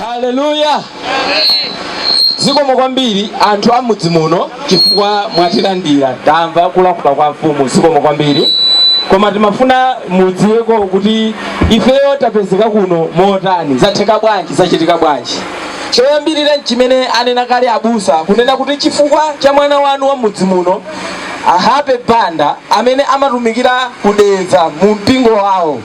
haleluya zikomo kwambiri anthu a mudzi muno chifukwa mwatilandira tamva kulankhula kwa mfumu zikomo kwambiri koma timafuna mudziweko kuti ifeyo tapezeka kuno motani zatheka bwanji zachitika bwanji Choyambirira n'chimene anena kale abusa kunena kuti chifukwa cha mwana wanu wa m'mudzi muno, a Happy Banda, amene amatumikira ku Dedza mu mpingo wawo.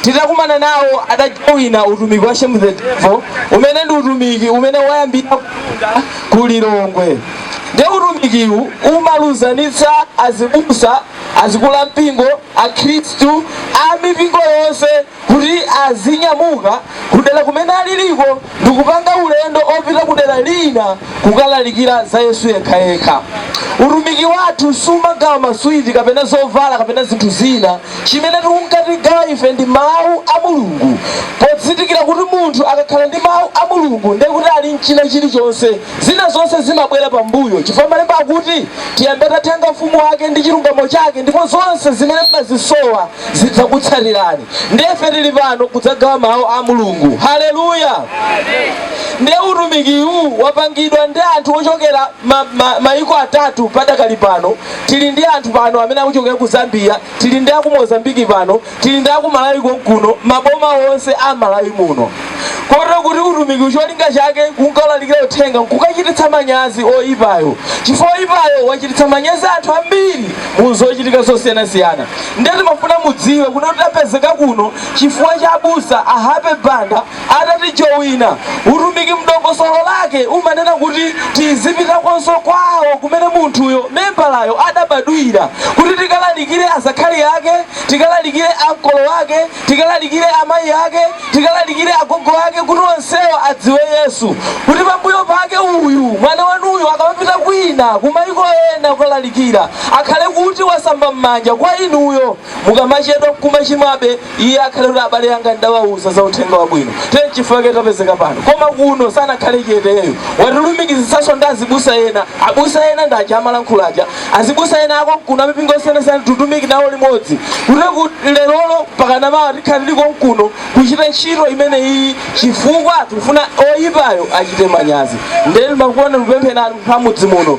Titakumana nawo adajowina utumiki wa Shame the Devil umene ndi utumiki umene wayambira kumtunda ku Lilongwe. Ndiye utumikiwu umalumikizanitsa azibusa, azikulu ampingo, akhristu a mipingo yonse. kuti azinyamuka kudera kumene aliriko ndikupanga ulendo opita kudera lina kukalalikira za Yesu yekhayekha. Utumiki wathu sumagawa maswiti kapena zovala kapena zinthu zina. Chimene tikunka tigawa ife ndi Mau a Mulungu podzindikira kuti munthu akakhala ndi Mau a Mulungu ndiye kuti ali nchina chilichonse. Zina zonse zimabwera pambuyo chifukwa malemba akuti tiyambe tathanga Ufumu wake ndi chilungamo chake ndipo zonse zimene timazisowa zidzatitsatira. Ndiye ife tili pano kudzagawa Mawu a Mulungu. Haleluya! Ndiye utumikiwu wapangidwa ndi anthu ochokera ma, ma, maiko atatu padakali pano. Tili ndi anthu pano amene akuchokera ku Zambia, tili ndi aku Mozambiki pano, tili ndi aku Malawi konkuno, maboma onse a Malawi muno. Kotero kuti utumikiwu cholinga chake nkukalalikira uthenga nkukachititsa manyazi oyipayo, chifukwa oyipayo wachititsa manyazi anthu ambiri mu zochitika zosiyanasiyana. nde timafuna mudziwe kuti tapezeka kuno chifukwa cha abusa a happy banda atatijowina utumiki mdongosolo lake umanena kuti tizipitakonso kwawo kumene munthuyo membalayo adabadwira kuti tikalalikire azakhali ake tikalalikire ankolo ake tikalalikire amayi ake tikalalikire agogo ake kuti onsewo adziwe Yesu, kuti pambuyo pake uyu, mwana wanuyu akamapita kwina, kumaiko ena kukalalikira, akhale kuti wasamba m'manja kwa inuyo. Mukamachedwa nkumachimwabe, iye akhale kuti abale anga ndidawauza za Uthenga Wabwino. Nde nchifukwa chake tapezeka pano. Koma kuno sanakhale chete ayi. Watilumikizitsanso ndi azibusa ena. Abusa ena ndi aja amalankhula aja. Azibusa ena akonkuno amipingo yosiyanasiyana titumikira nawo limodzi kutero kuti lerolo mpakana mawa tikhale tili konkuno kuchita ntchito imeneyiyi chifukwa tikufuna oyipayo achite manyazi nde timafuna tikupempheni anthu amudzi muno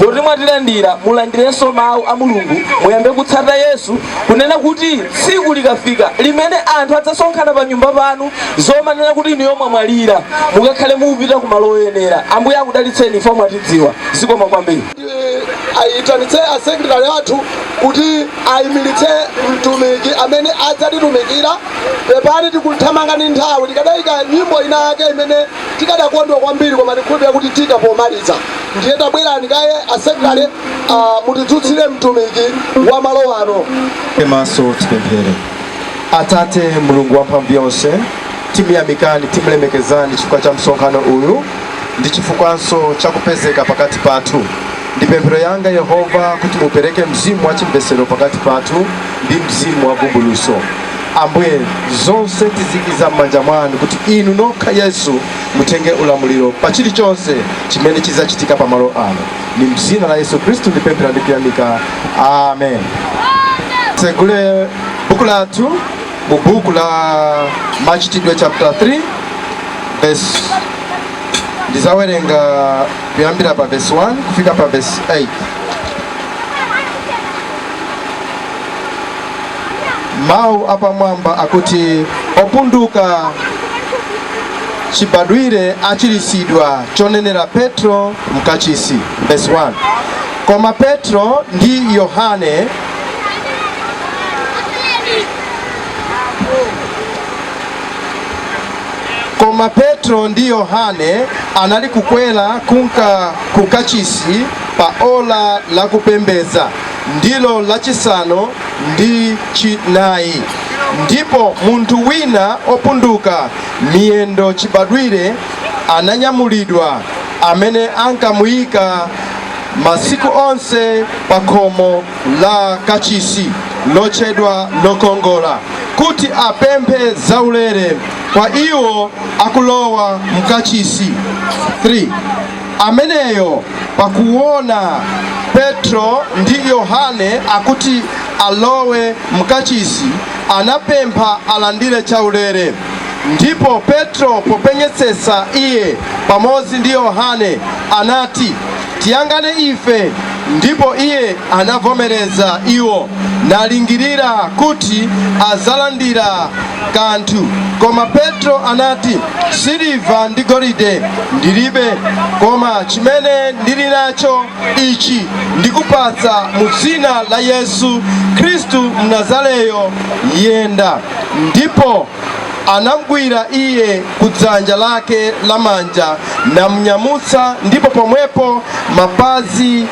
poti mwatilandira mulandirenso mawu a mulungu muyambe kutsata yesu kunena kuti tsiku likafika limene anthu adzasonkhana pa nyumba panu nkumanena kuti inu yomwe mwalira mukakhale mukupita ku malo oyenera ambuye akudalitseni ife mwatidziwa zikomo kwambiri Tiitanitse a sekretari athu kuti aimilitse mtumiki amene adzatitumikira. Pepani tikuthamanga ndi nthawi. Tikadaika nyimbo inayake imene tikadakondwa kwambiri koma tikhulupilira kuti tiika pomaliza. Ndiye tabwerani kaye a sekretari mutidzutsire mtumiki wa malo ano. Titseke maso tipemphere. Atate Mulungu wa mphamvu yonse, tiyamikani, timulemekezani chifukwa cha msonkhano uyu. ndi chifukwanso cha kupezeka pakati pathu. Ndi pemphero yanga Yehova kuti mupereke mzimu wa chimvetsero pakati pathu ndi mzimu wa vumbulutso. Ambuye, zonse tizikiza m'manja mwanu kuti inu nokha Yesu mutenge ulamuliro pa chilichonse chimene chidzachitika pamalo ano. Ndi m'dzina la Yesu Khristu ndipemphera ndi kuyamika. Amen. Titsegule buku lathu mu buku la Machitidwe chapter 3 e ndizawerenga kuyambira pa verse 1 kufika pa verse 8 mawu apamwamba akuti opunduka chibadwire achiritsidwa cholinga petro mkachisi verse 1 koma petro ndi yohane koma petro ndi yohane anali kukwera kunka ku kachisi pa ola la kupemphera ndilo lachisanu ndi chinayi ndipo munthu wina opunduka miyendo chibadwire ananyamulidwa amene ankamuyika masiku onse pa khomo la kachisi lotchedwa lokongola kuti apemphe zaulere kwa iwo akulowa mkachisi 3 ameneyo pakuona petro ndi yohane akuti alowe mkachisi anapempha alandire chaulere ndipo petro popenyetsetsa iye pamodzi ndi yohane anati, Tiyang'ane ife, ndipo iye anavomereza iwo, nalingirira kuti azalandira kanthu. Koma Petro anati, Siliva ndi golide ndilibe, koma chimene ndili nacho ichi ndikupatsa, mu dzina la Yesu Khristu Mnazareyo, yenda. Ndipo anamgwira iye kudzanja lake lamanja namnyamutsa, ndipo pomwepo mapazi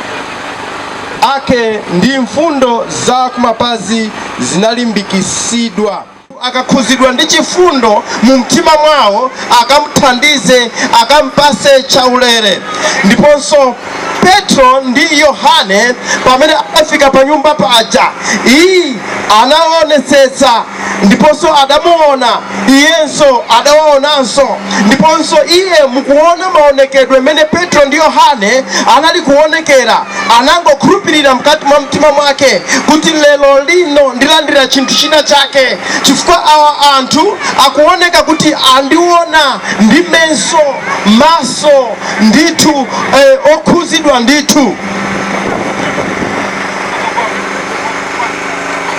ake ndi mfundo za kumapazi zinalimbikitsidwa akakhuzidwa ndi chifundo mu mtima mwawo akamthandize akampase chaulere. Ndiponso Petro ndi Yohane pamene afika pa nyumba paja, iye anaonetsetsa ndiponso adamuona iyenso adawaonanso ndiponso iye m'kuona maonekedwe mmene Petro ndi Yohane anali kuonekera anangokhulupirira mkati mwa mtima mwake kuti lero lino ndilandira chinthu china chake chifukwa awa anthu akuoneka kuti andiona ndi menso maso ndithu eh, okhuzidwa ndithu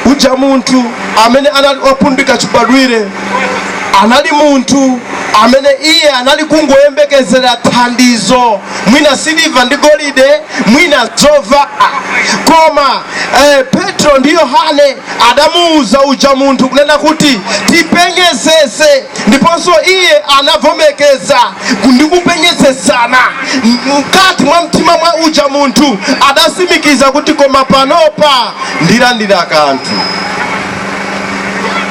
Uja munthu amene anali wopunduka chibadwire anali munthu amene iye anali kungoyembekezera thandizo, mwina siliva ndi golide, mwina zovala. Koma eh, Petro ndi Yohane adamuuza uja munthu kunena kuti tipenyetsetse ndiponso iye anavomekeza ndi kupenyetsetsana mkati mwa mtima mwa uja munthu adasimikiza kuti koma panopa ndilandira kanthu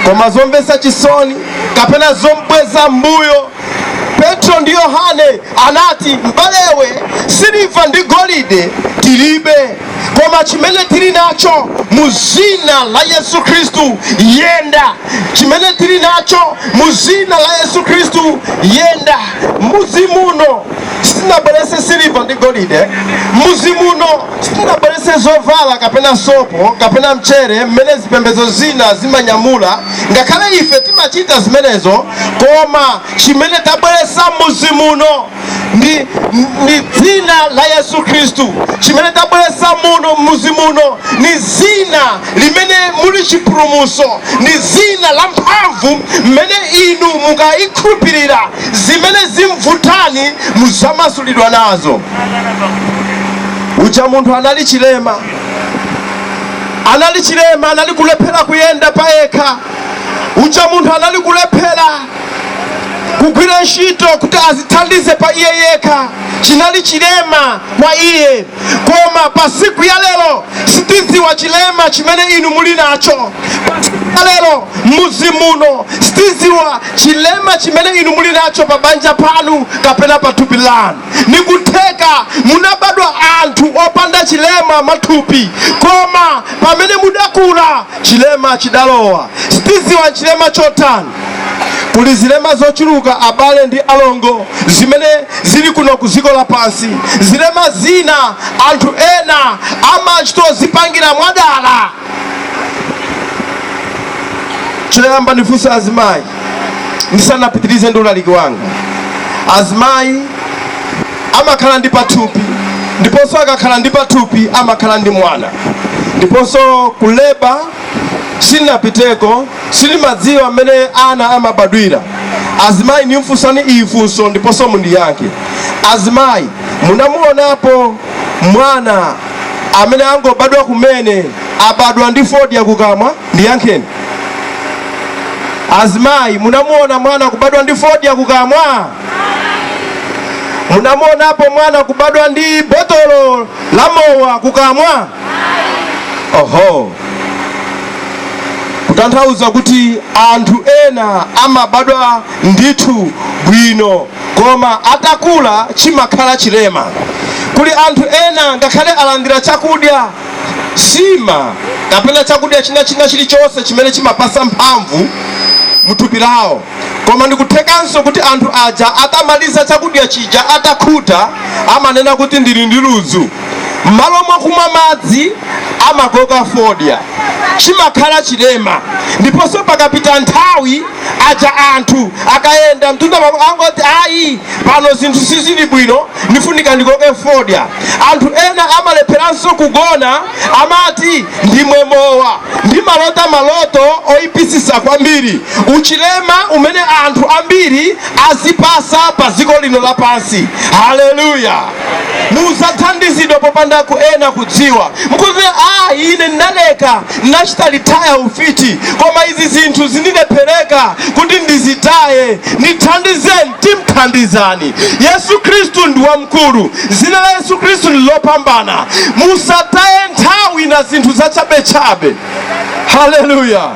koma zomvetsa chisoni kapena zombweza mbuyo petro ndi yohane anati mbale iwe siliva ndi golide tilibe koma chimene tili nacho mu zina la Yesu Khristu yenda chimene tili nacho mu zina la Yesu Khristu yenda muzi muno sitinabwerese siliva ndi golide muzi muno sitinabwerese zovala kapena sopo kapena mchere mmene zipembedzo zina zimanyamula ngakhale ife timachita zimenezo koma chimene tabweresa muzi muno ndi, ndi dzina la yesu khristu chimene tabweresa muno muzi muno ni zina limene muli chipulumuso ni zina la mphamvu mmene inu mukalikhulupirira zimene zimvutani muzamasulidwa nazo uja munthu anali chilema anali chilema anali kulephera kuyenda payekha uja munthu anali kulephera kugwira ntchito kuti azithandize pa iye yekha chinali chilema kwa iye koma pa siku ya lero sitidziwa chilema chimene inu muli nacho pa siku ya lero mudzi muno sitidziwa chilema chimene inu muli nacho pa banja panu kapena pa thupi lanu nikutheka munabadwa anthu opanda chilema m'matupi koma pamene mudakula chilema chidalowa sitidziwa chilema chotani Kuli zilema zochuluka abale ndi alongo zimene zili kuno ku dziko lapansi. Zilema zina anthu ena amachtozipangira mwadala. Choyamba ndifunse azimayi ndisanapitirize ndi ulaliki wanga. Azimayi amakhala ndi pathupi ndiponso akakhala ndi pathupi amakhala ndi mwana ndiponso kuleba sindinapiteko. Sinimadziwa mmene ana amabadwira. Azimayi ndimfusani iyi funso ndiponso mundiyankhe. Azimayi munamuonapo mwana amene angobadwa kumene abadwa ndi fodya kukamwa? Ndiyankheni. Azimayi munamuona mwana kubadwa ndi fodya kukamwa? Munamuonapo mwana kubadwa ndi botolo la mowa kukamwa? oho kutanthauza kuti anthu ena amabadwa ndithu bwino koma atakula chimakhala chilema kuli anthu ena ngakhale alandira chakudya sima kapena chakudya china china chilichonse chimene chimapasa mphamvu muthupi lawo Koma ndikuthekanso kuti anthu aja atamaliza chakudya chija atakhuta amanena kuti ndili ndi ludzu. M'malo mwakumwa madzi amakoka fodya. Chimakhala chilema. Ndiponso pakapita nthawi aja anthu akayenda mtunda pang'ono amangoti ayi pano zinthu sizili bwino ndifunika ndikoke fodya. Anthu ena amalepheranso kugona. Amati ndimwe mowa. Ndimalota maloto oyipisisa kwambiri. Uchilema umene anthu ambiri azipasa pa ziko lino lapansi. Hallelujah. Muzathandizidwa popanda kwa ena kudziwa. Mukuti, ah, ine ndaleka ndinachita litaya ufiti koma izi zinthu zindilephereka kuti ndizitaye. Ndithandizeni, timthandizani. Yesu Kristu ndi wamkulu. Zina la Yesu Khristu ndi lopambana. Musataye nthawi na zinthu zachabechabe. Haleluya!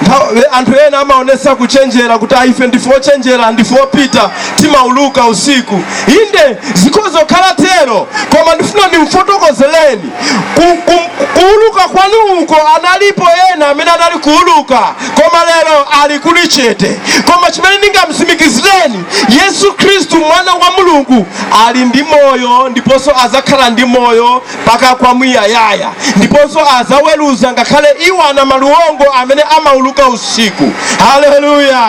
Nthawi- Anthu ena amaonesa kuchenjera kuti "Ayi, ife ndife ochenjera, ndife opita, timauluka usiku. Inde zikhoza kukhala tero, koma ndifuna ndimfotokozeleni Ku- ku- kuuluka kwanu uko analipo ena amene anali kuuluka, koma lero ali kuli chete. Koma chimene ndingamsimikizireni Yesu Khristu, Mwana wa Mulungu, ali ndi moyo ndiponso azakhala ndi moyo mpaka kwamuyayaya, ndiponso azaweruza ngakhale iwo anamaliwongo amene amauluka usiku. Haleluya!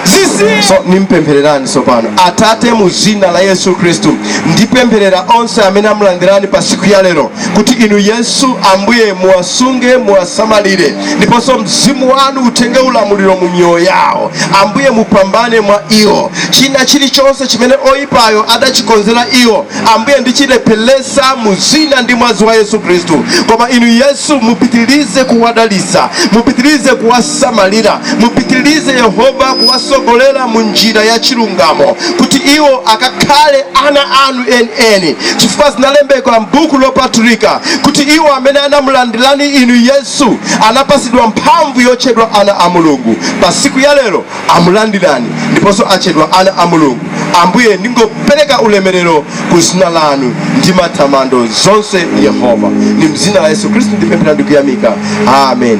zisiye So, nimpemphererani tsopano atate mu zina la yesu khristu ndipempherera onse amene amulandirani pa siku ya lero kuti inu yesu ambuye muwasunge muwasamalire ndiponso mzimu wanu utenge ulamuliro mu miyoyo yawo ambuye mupambane mwa iwo china chilichonse chimene oyipayo adachikonzera iwo ambuye ndichilephelesa mu dzina ndi mwazi wa yesu khristu koma inu yesu mupitilize kuwadalisa mupitilize kuwasamalira mupitilize yehova kuwasogolera mu njira ya chilungamo kuti iwo akakhale ana anu chifukwa zinalembedwa m'buku lopatulika kuti iwo amene anakulandirani inu yesu anapasidwa mphamvu yotchedwa ana a mulungu pa siku ya lero akulandirani ndiponso atchedwa ana a mulungu ambuye ndingopereka ulemerero ku dzina lanu ndi matamando zonse yehova ndi m'dzina la yesu khristu ndipemphera ndikuyamika amen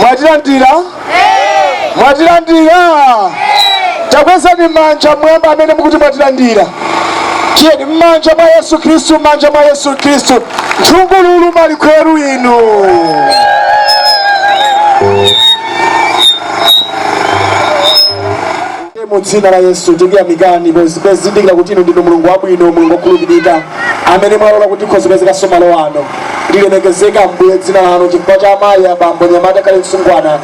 mwatilandira mwatilandira takwezani manja m'mwamba amene mukuti mwatilandira tiyeni mmanja mwa yesu khristu mmanja mwa yesu khristu nthungululu malikhweru inu Atate, mu Dzina la Yesu, tikuyamikani pozindikira kuti Inu ndinu Mulungu wabwino, Mulungu wokhulupirika, amene mwalola kuti tikhoze kupezekanso malo ano. Lilemekezeke Ambuye dzina lanu chifukwa cha amayi, abambo, mnyamata kaya mtsungwana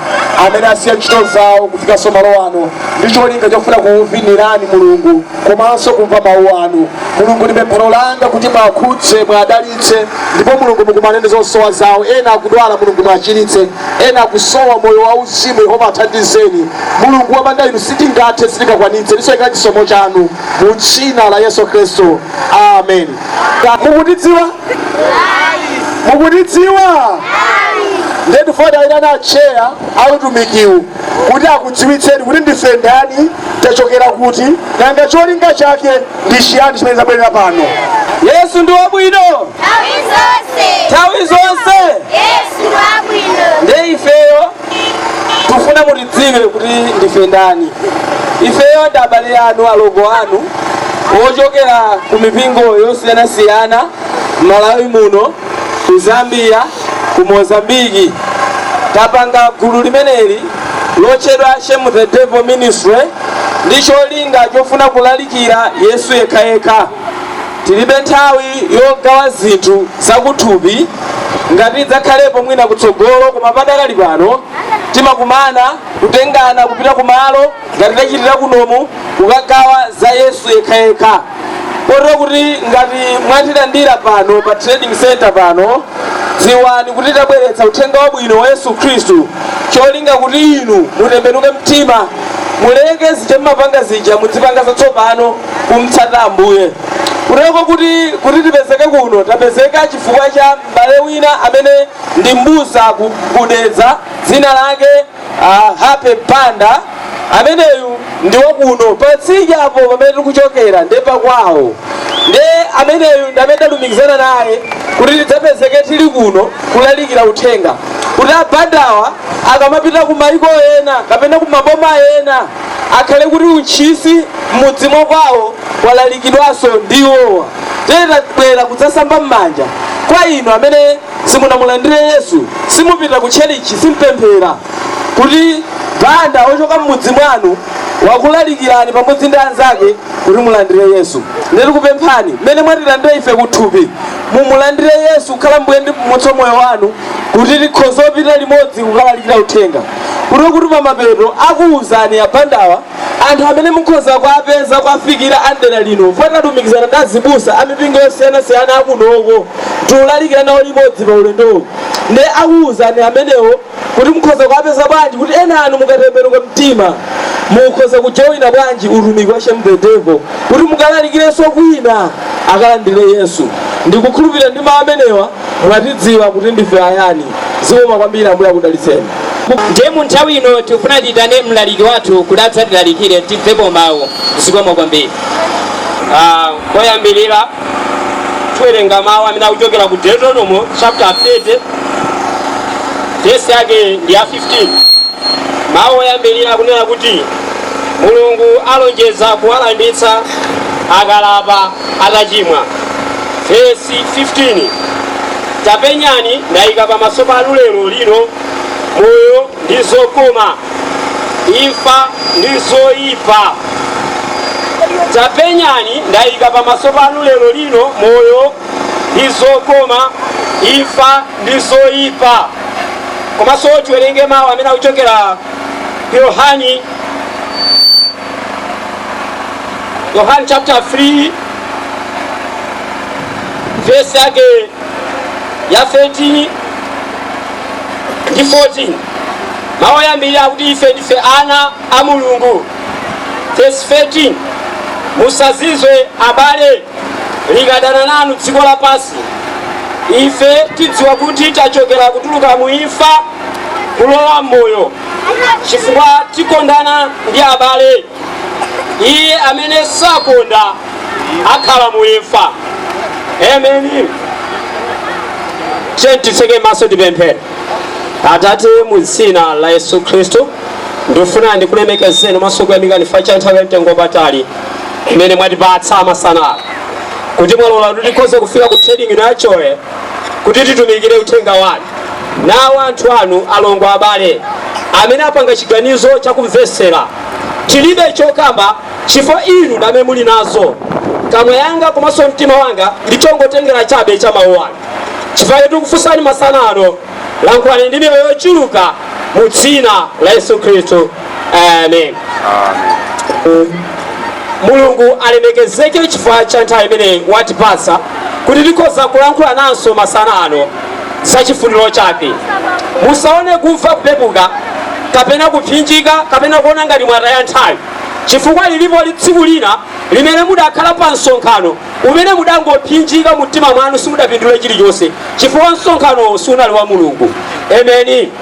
amene asiya ntchito zawo kufikanso malo ano ndi cholinga chofuna kukuvinirani Mulungu komanso kumva mawu anu. Mulungu, ndi pemphero langa kuti muwakhudze, muwadalitse ndipo Mulungu mukumane ndi zosowa zawo. Ena akudwala, Mulungu muwachiritse. Ena akusowa moyo wa uzimu Yehova athandizeni mulungu wopanda inu sitingathe sitingakwanitse tisowekera chisomo chanu mu dzina la yesu khristu amen mukutidziwa mukutidziwa nde tifuna tiwayitane atcheya a utumikiwu kuti akudziwitseni kuti ndife ndani tachokera kuti nanga cholinga chake ndi chiyani chimene tabwerera pano yesu ndi wabwino Nthawi zonse. nthawi zonse Yesu ndi wabwino. nde ifeyo tufuna mutidziwe kuti ndife ndani ifeyo ndi abale anu alongo anu ochokera ku mipingo yosiyanasiyana m'malawi muno ku Zambia, ku Mozambique. Tapanga gulu limeneli lotchedwa Shame the Devil Ministry ndi cholinga chofuna kulalikira Yesu yekhayekha. Tilibe nthawi yogawa zinthu zakuthupi, ngati idzakhalepo mwina kutsogolo koma padakali pano timakumana, kutengana kupita kumalo. ngati tachitira kunomu kukagawa za yesu yekhayekha kotero kuti ngati mwatilandira pano pa trading center pano dziwani kuti tabweretsa uthenga wabwino wa yesu khristu cholinga kuti inu mutembenuke mtima muleke zija mmapanga zija mudzipanga zatsopano kumtsata ambuye kuteko kuti kuti tipezeke kuno tapezeka chifukwa cha m'bale wina amene ndi mbusa ku- ku Dedza dzina lake Ah, Happy Banda ameneyu ndi wakuno patsidya apo pamene tikuchokera nde pakwawo nde ameneyu ndi amene talumikizana naye kuti tidzapezeke tili kuno kulalikira uthenga kuti a Bandawa akamapita ku maiko ena kapena ku maboma ena akhale kuti uthenga m'mudzi mwa kwawo walalikidwanso ndi iwowa ndiye tabwera kudzasamba m'manja kwa inu amene simunamulandire Yesu, simupita ku tchalitchi, simpemphera, kuti Banda ochoka mmudzi mwanu wakulalikirani pamodzi ndi anzake kuti mulandire Yesu, nde tikupemphani mmene mwatilandirira ife kuthupi, mumulandire Yesu kukhala Mbuye ndi Mpulumutsi wa moyo wanu, kuti tikhoze kupita limodzi kukalalikira uthenga, kuteko kuti pamapeto akuuzani a Bandawa. Anthu amene mukhoza kuwapeza kuwafikira a m'dera lino fukwa tinalumikizana ndi azibusa a mipingo yosiyanasiyana ya kunoko tiulalikira nawo limodzi pa ulendowu nde akuuzani amenewo kuti mukhoza kuwapeza bwanji kuti enanu mukatembenuka mtima mukhoza kujowina bwanji utumiki wa Shame the Devil kuti mukalalikirenso kwina akalandire yesu ndikukhulupirira ndi mawu amenewa Mwatidziwa kuti ndife ayani. Zikomo kwambiri Ambuye akudalitseni. Ndiye mu nthawi ino tikufuna tiyitane mlaliki wathu kuti adzatilalikire timvepo mawu. Zikomo kwambiri. Ah, Poyambirira tiwerenga mawu amene akuchokera ku Deuteronomo chapter 30 verse yake ndi ya 15. Mawu oyambirira akunena kuti Mulungu alonjeza kuwalanditsa akalapa atachimwa. Vesi 15, Tapenyani, ndaika pamaso panu lero lino moyo ndi zokoma, imfa ndi zoipa. Tapenyani, ndaika pamaso panu lero lino moyo ndi zokoma, imfa ndi zoipa. Komanso tiwerenge mawu amene akuchokera ku Yohane. Yohane chapter 3 verse yake ya 13 ndi 14 mawu oyambirira akuti ife ndife ana a mulungu verse 13 musazizwe abale likadana nanu dziko lapansi ife tidziwa kuti tachokera kutuluka mu imfa kulowa m'moyo chifukwa tikondana ndi abale iye amene sakonda akhala muimfa amen tiyeni titseke maso tipemphere atate mu dzina la yesu khristu ndifuna ndikulemekezeni komanso kuyamikani chifukwa cha nthawi ya mtengo wapatali imene mwatipatsa masana ano kuti mwalola kuti tikhoze kufika ku trading ino yachoye kuti titumikire uthenga wanu. Nawa anthu anu, alongo abale, amene apanga chiganizo cha kumvetsera. Tilibe chokamba chifukwa inu ndi amene muli nazo. Kamwa yanga komanso mtima wanga ndi chongotengera chabe cha mawu anu. Chifukwa chake tikufunsani masana ano Lankhulani ndi miyoyo yochuluka mu dzina la Yesu Khristu. Amen. Mulungu alemekezeke chifukwa cha nthawi imene watipatsa kuti tikhoze kulankhulananso masana ano za chifuniro chake. Musaone kumva kupepuka kapena kupsinjika kapena kuona ngati mwataya nthawi chifukwa lilipo tsiku lina limene mudakhala pa msonkhano umene mudangopsinjika mu mtima mwanu simudapindule chilichonse chifukwa msonkhanowo sunali wa mulungu ameni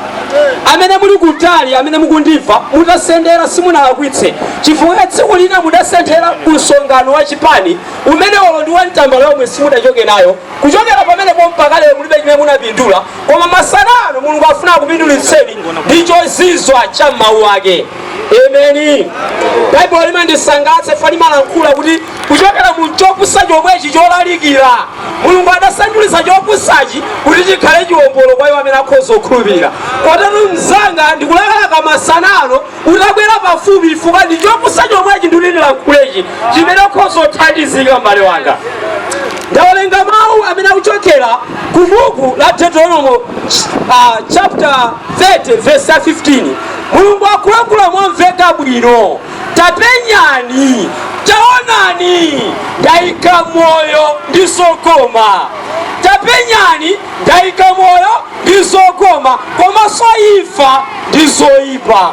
amene muli kutali amene mukundimva mutasendera simunalakwitse chifukwa tsiku lina mudasendera ku msonkhano wa chipani umene olo ndiwo ya mtambala yomwe simudachoke nayo kuchokera pamenepo mpaka lero mulibe chimene munapindula koma masana ano mulungu afuna akupindulitseni ndi chozizwitsa cha mawu ake ameni baibulo limandisangalatsa chifukwa limalankhula kuti kuchokera mu chopusa chomwechi cholalikira mulungu adasandulitsa chopusachi kuti chikhale chiwombolo kwa iwo amene akhoza kukhulupirira kotero mzanga ndikulakalaka masana ano utabwera pafupi chifukwa ndi chopusa chomwechi nditi ndilankhulechi chimene ukhoza kuthandizika m'bale wanga ndawerenga mawu amene akuchokera ku buku la deuteronomo uh, chapter 30 verse 15 mulungu akulankhula momveka bwino Tapenyani, taonani, ndaika moyo ndi zokoma. Tapenyani, ndaika moyo ndi zokoma, komanso imfa ndi zoipa.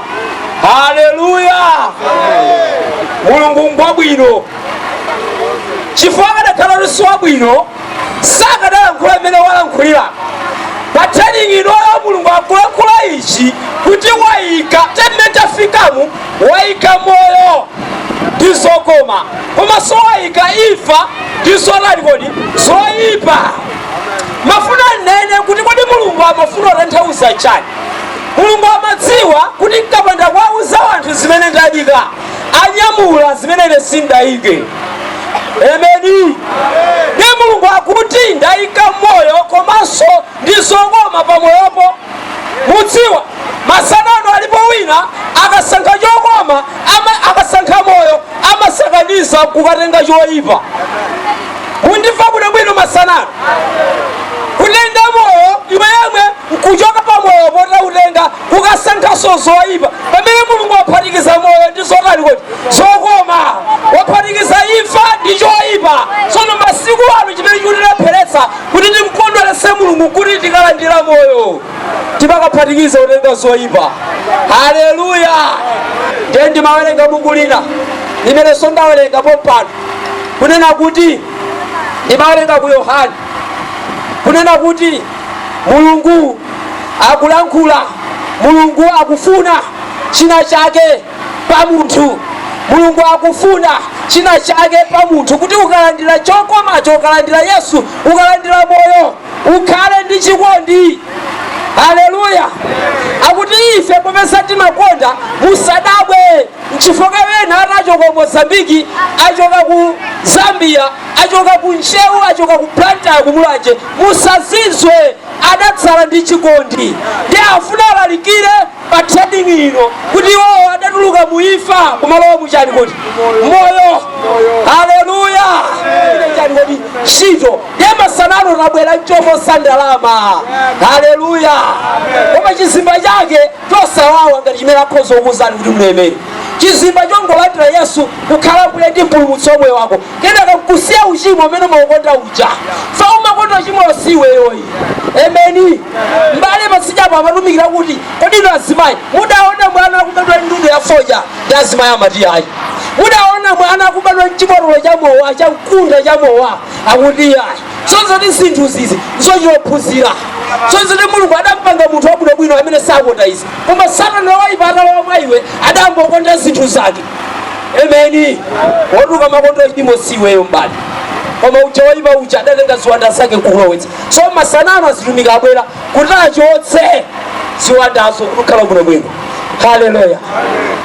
Haleluya! Mulungu ngwabwino chifukwa akadakhala kuti si wabwino sakadalankhula mmene walankhulira pa training inoyo mulungu akulankhula ichi kuti waika mmene tafikamu Waika moyo ndi zokoma komanso waika imfa ndi zotani kodi zoyipa. Ndimafuna ndinene kuti kodi Mulungu amafuna kutanthauza chani? Mulungu amadziwa kuti nkapanda kuwauza anthu zimene ndaika anyamula zimene ine sindayike. Ameni. Nde Mulungu akuti ndaika moyo komanso ndi zokoma pamoyopo. mudziwa masana ano alipo wina akasankha chokoma ama- akasankha moyo amasakaniza nkukatenga choyipa mukundimva kuno bwino masana ano kutenga moyo iwe yemwe nkuchoka pa moyo potakutenga kukasankhanso zoyipa pamene mulungu waphatikiza moyo ndi zotani kodi zokoma waphatikiza imfa ndi choyipa tsono masiku ano chimene chikutilepheretsa Kuti timkondweretse Mulungu nkuti tikalandira moyo, timakaphatikiza kutenga zoipa. Haleluya! Ndiye ndimawerenga buku lina limenenso ndawerenga pompano, kunena kuti ndimawerenga ku Yohane, kunena kuti Mulungu akulankhula, Mulungu akufuna china chake. pa munthu. Mulungu akufuna china chake pa munthu kuti ukalandira chokomacho, ukalandira Yesu, ukalandira moyo, ukhale ndi chikondi. Haleluya! Akuti ife popeza timakonda, musadabwe nchifukwa ena atachoka ku Mozambiki, achoka ku Zambia, achoka ku Ntcheu, achoka ku Blantyre, ku Mulanje, musazizwe, adatsala ndi chikondi ndiye afuna alalikire pa trading ino kuti iwowo adatuluka mu imfa kumalowa muchani kodi moyo haleluya chani kodi ntchito ya masana ano tabwera nchoposa ndalama haleluya koma chizimba chake chosawawa ngati chimene akhoza kukuuzani kuti mlemere chizimba chongolandira yesu kukhala mbuye ndi mpulumutsi wa moyo wako kenaka nkusiya uchimo umene umakonda uja so umakonda uchimowo si iweyoyi emeni m'bale patsidyapo amatumikira kuti kodi inu azimayi mudaona mwana akubadwa ndudu ya fodya azimayi amati ayi mudaona mwana akubadwa nchibotolo cha mowa cha mkunda cha mowa akuti ayi zonse ndi zinthu izi zochitophunzira zonse ndi mulungu adampanga munthu wabwinobwino amene sakonda izi koma satana woipa atalowa mwa iwe udayamba kukonda zinthu zake Amen. Wathu, kumakonda uchimo si iweyo m'bale. Koma uja woyipa uja adatenga ziwanda zake kukulowetsa. So masanano azitumiki abwera kuti achotse ziwandazo kukhala bwino bwino. Haleluya.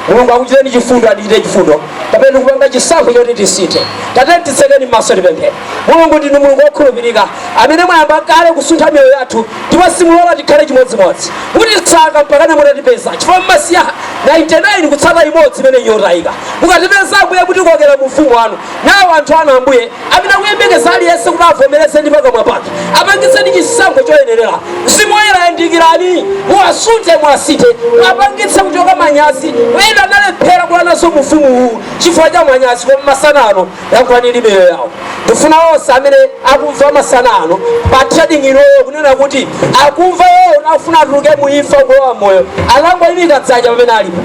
Mulungu akuchitireni chifundo atichitire chifundo. Kapena kupanga chisankho choti tisinthe. Tiyeni titseke maso tipemphere. Mulungu ndinu Mulungu wokhulupirika amene mwayamba kale kusuntha miyoyo yathu ndipo simulola tikhale chimodzimodzi mutitsata mpakana mutatipeza chifukwa mmasiya 99 kutsata imodzi imene nyotayika mukatipeza ambuye kutikokera mu ufumu wanu nawo anthu anu ambuye amene akuyembekeza aliyense kuti avomereze ndi pakamwa pake apangitseni chisankho choyenerera mzimu woyera yandikirani muwasunthe muwasinthe apangitseni kuchoka manyazi ena analephera kulowanso mu ufumu uwu chifukwa cha manyazi koma masana ano Yankhulani ndi miyoyo yawo. Ndifuna onse amene akumva masana ano pa trading iloyo kunena kuti akumva akufuna atuluke mu imfa kulowa moyo. Angoimika dzanja pamene alipo.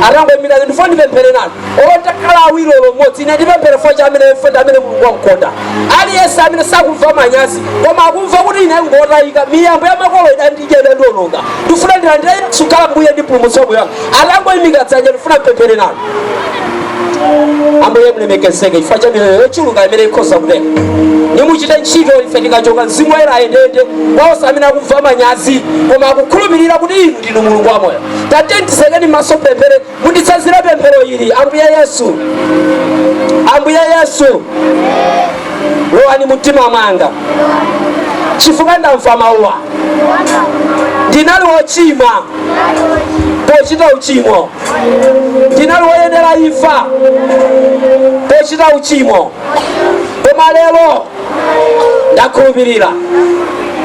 Angoimika dzanja ndifuna ndipemphere nanu. Otakhala awiri olo mmodzi ine ndipemphere chifukwa cha ameneyo ndi amene Mulungu wamukonda. Aliyense amene sakumva manyazi koma akumva kuti ine ndotayika miyambo ya makolo idandidya idandiononga. Ndifuna ndilandire Yesu akhale mbuye ndi mpulumutsi wa moyo wanga. Angoimika dzanja ndifuna ndipemphere nanu. ambuye mulemekezeke chifukwa cha miyoyo yochuluka imene ikhoza kutheka ndi muchite ntchito ife tikachoka mzimu woyera ayendeyende onse amene akumva manyazi koma akukhulupirira kuti inu ndinu mulungu wamoyo tatiyeni titsekeni maso pemphero munditsatire pemphero ili ambuye yesu ambuye yesu lowani mumtima mwanga chifukwa ndamva mawuwa ndinali wochimwa pochita uchimo ndinali woyenera imfa pochita uchimo koma lero ndakhulupirira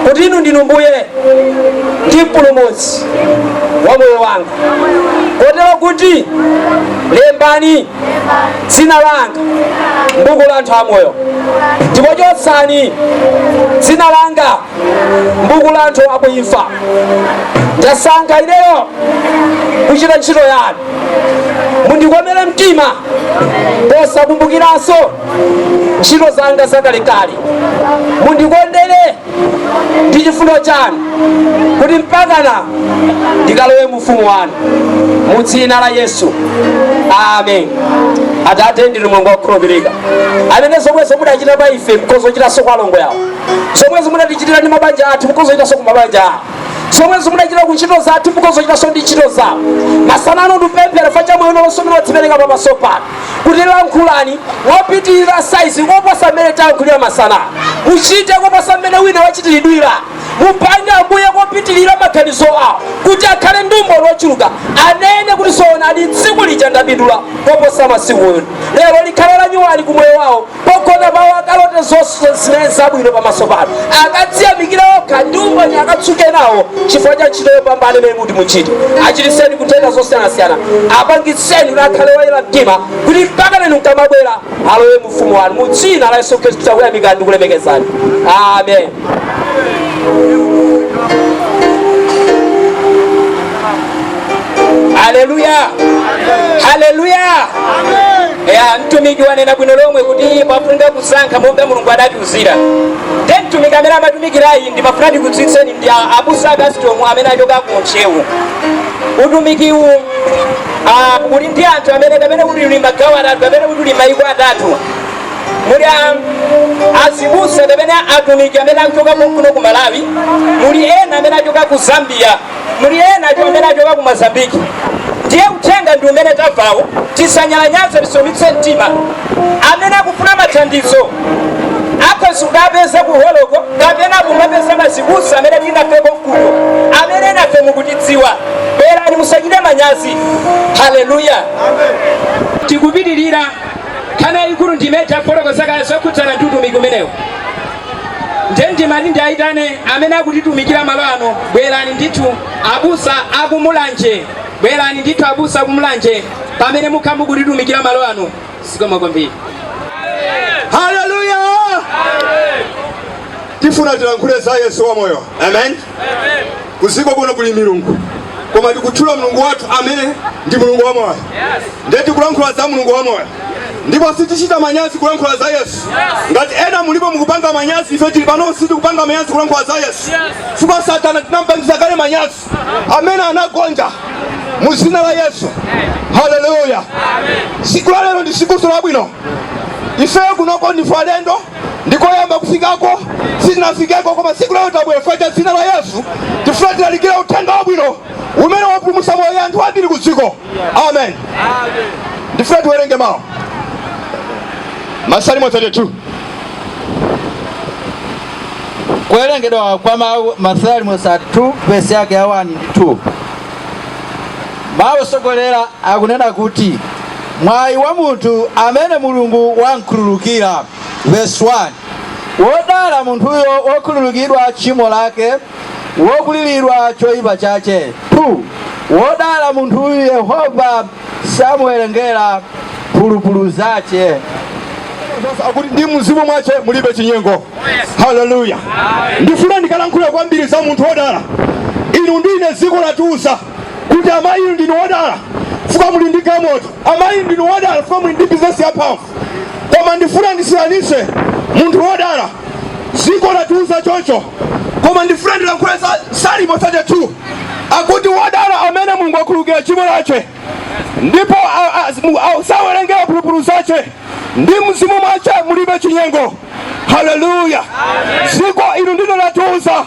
kuti inu ndinu mbuye ndi mpulumutsi wa moyo wanga kotero kuti lembani dzina langa mbuku la anthu amoyo ndipo chotsani dzina langa mbuku la anthu aku imfa ndasankha ineyo kuchita ntchito yanu mundikomere mtima posakumbukiranso ntchito zanga zakalekale mundikondere ndi chifundo chanu kuti mpakana ndikalowe mu ufumu wanu mu dzina la yesu amen atate ndinu mulungu wakukhulupirika amene zomwezo mudachita pa ife mukhoza kuchitanso kwa alongo awa zomwezo munatichitira ndi mabanja athu mukhoza kuchitanso ku mabanja awo zomwezo munachitira ku ntchito zathu mukhoza kuchitanso ndi ntchito zawo masana ano ndipemphera chifukwa cha moyo wonse umene wadzipereka pamaso panu kuti lankhulani mopitirira saizi koposa mmene tayankhulira masana muchite koposa mmene wina wachitiridwira mupange ambuye kopitirira maganizo awo kuti akhale ndi umboni wochuluka anene kuti zoonadi tsiku lija ndapindula koposa masiku onse lero likhale lanyuwani ku moyo wawo pogona pawo akalote zonse zimene ndi zabwino pamaso panu akadziyamikire okha ndi umboni akadzuke nawo chifukwa cha ntchito yopambana imene muti muchite achiritseni ku nthenda zosiyanasiyana apangitseni kuti akhale oyera mtima kuti mpaka inu mukamabwera alowe mu ufumu wanu mu dzina la yesu khristu takuyamikani ndikulemekezani amen haleluya haleluya ya mtumiki wanena bwino lomwe kuti pafunika kusankha monga mulungu adatiuzira te mtumiki amene amatumikirayi ndimafuna ndikudziwitseni ndi abusa a Kasitomu amene achoka ku Ntcheu utumikiwu ah, uli ndi anthu amene kapena kuti uli magawo atatu kapena kuti uli maiko atatu muli azibusa kapena atumiki amene achoka kuno ku Malawi, muli ena amene achoka ku Zambia, muli ena amene achoka ku Mozambique. Ndiye uthenga ndi umene tamvawo, tisanyalanyaze, tisaumitse mtima. Amene akufuna mathandizo akhoza kukatipeza kuholoko kapena kumapeza mazibusa amene muli nafe konkuno, amene nafe mukutidziwa. Bwerani, musachite manyazi. Haleluya, tikupitirira. Nkhani yayikulu ndi imene tafotokoza kale zokhudzana ndi utumiki umenewu. Ndiye ndimati ndiayitane amene akutitumikira malo ano, bwerani ndithu abusa aku Mulanje, bwerani ndithu abusa aku Mulanje pamene mukhala mukutitumikira malo ano. Zikomo kwambiri. Haleluya! Tifuna tilankhule za Yesu wamoyo. Amen. kudziko kuno kuli milungu koma tikutchula mulungu wathu amene ndi mulungu wamoyo ndiye tikulankhula za mulungu wamoyo ndipo sitichita manyazi kulankhula za yesu ngati ena mulipo mukupanga manyazi ife tili pano sitikupanga manyazi kulankhula za yesu chifukwa satana tinampangitsa kale manyazi amene anagonja mu zina la yesu haleluya tsiku la lero ndi tsikunso labwino ifeyo kunoko ndife alendo ndikoyamba kufikako sitinafikeko koma tsiku la lero tabwera chifukwa cha dzina la yesu tifuna tilalikire uthenga wabwino umene wapulumutsa moyo wa anthu ambiri ku dziko amen ndifuna tiwerenge mawu masalimo 32 kuwerengedwa kwa mawu masalimo 32 vesi yake ya 1 ndi 2 Mawu otsogolera akunena kuti, Mwayi wa munthu amene Mulungu wam'khululukira, vesi 1, Wodala munthuyo wokhululukidwa tchimo lake, wokwiriridwa choipa chache, 2, Wodala munthuyu Yehova samuwerengera mphulupulu zache. akuti ndi mzimu mwache mulibe chinyengo haleluya ndifuna ndikalankhule kwambiri za munthu wodala inu ndi ine dziko latiuza kuti amayi inu ndinu odala chifukwa muli ndi galimoto amayi ndinu odala chifukwa muli ndi bizinesi yamphamvu koma ndifuna ndisiyanitse munthu wodala dziko latiuza choncho koma ndifuna ndilankhule za salimo 32 akuti wodala amene mulungu akhululukira chimo lache ndipo a- a- mu- a- sawerengera mphulupulu zache ndi mzimu mwache mulibe chinyengo haleluya dziko inu ndilo latiuza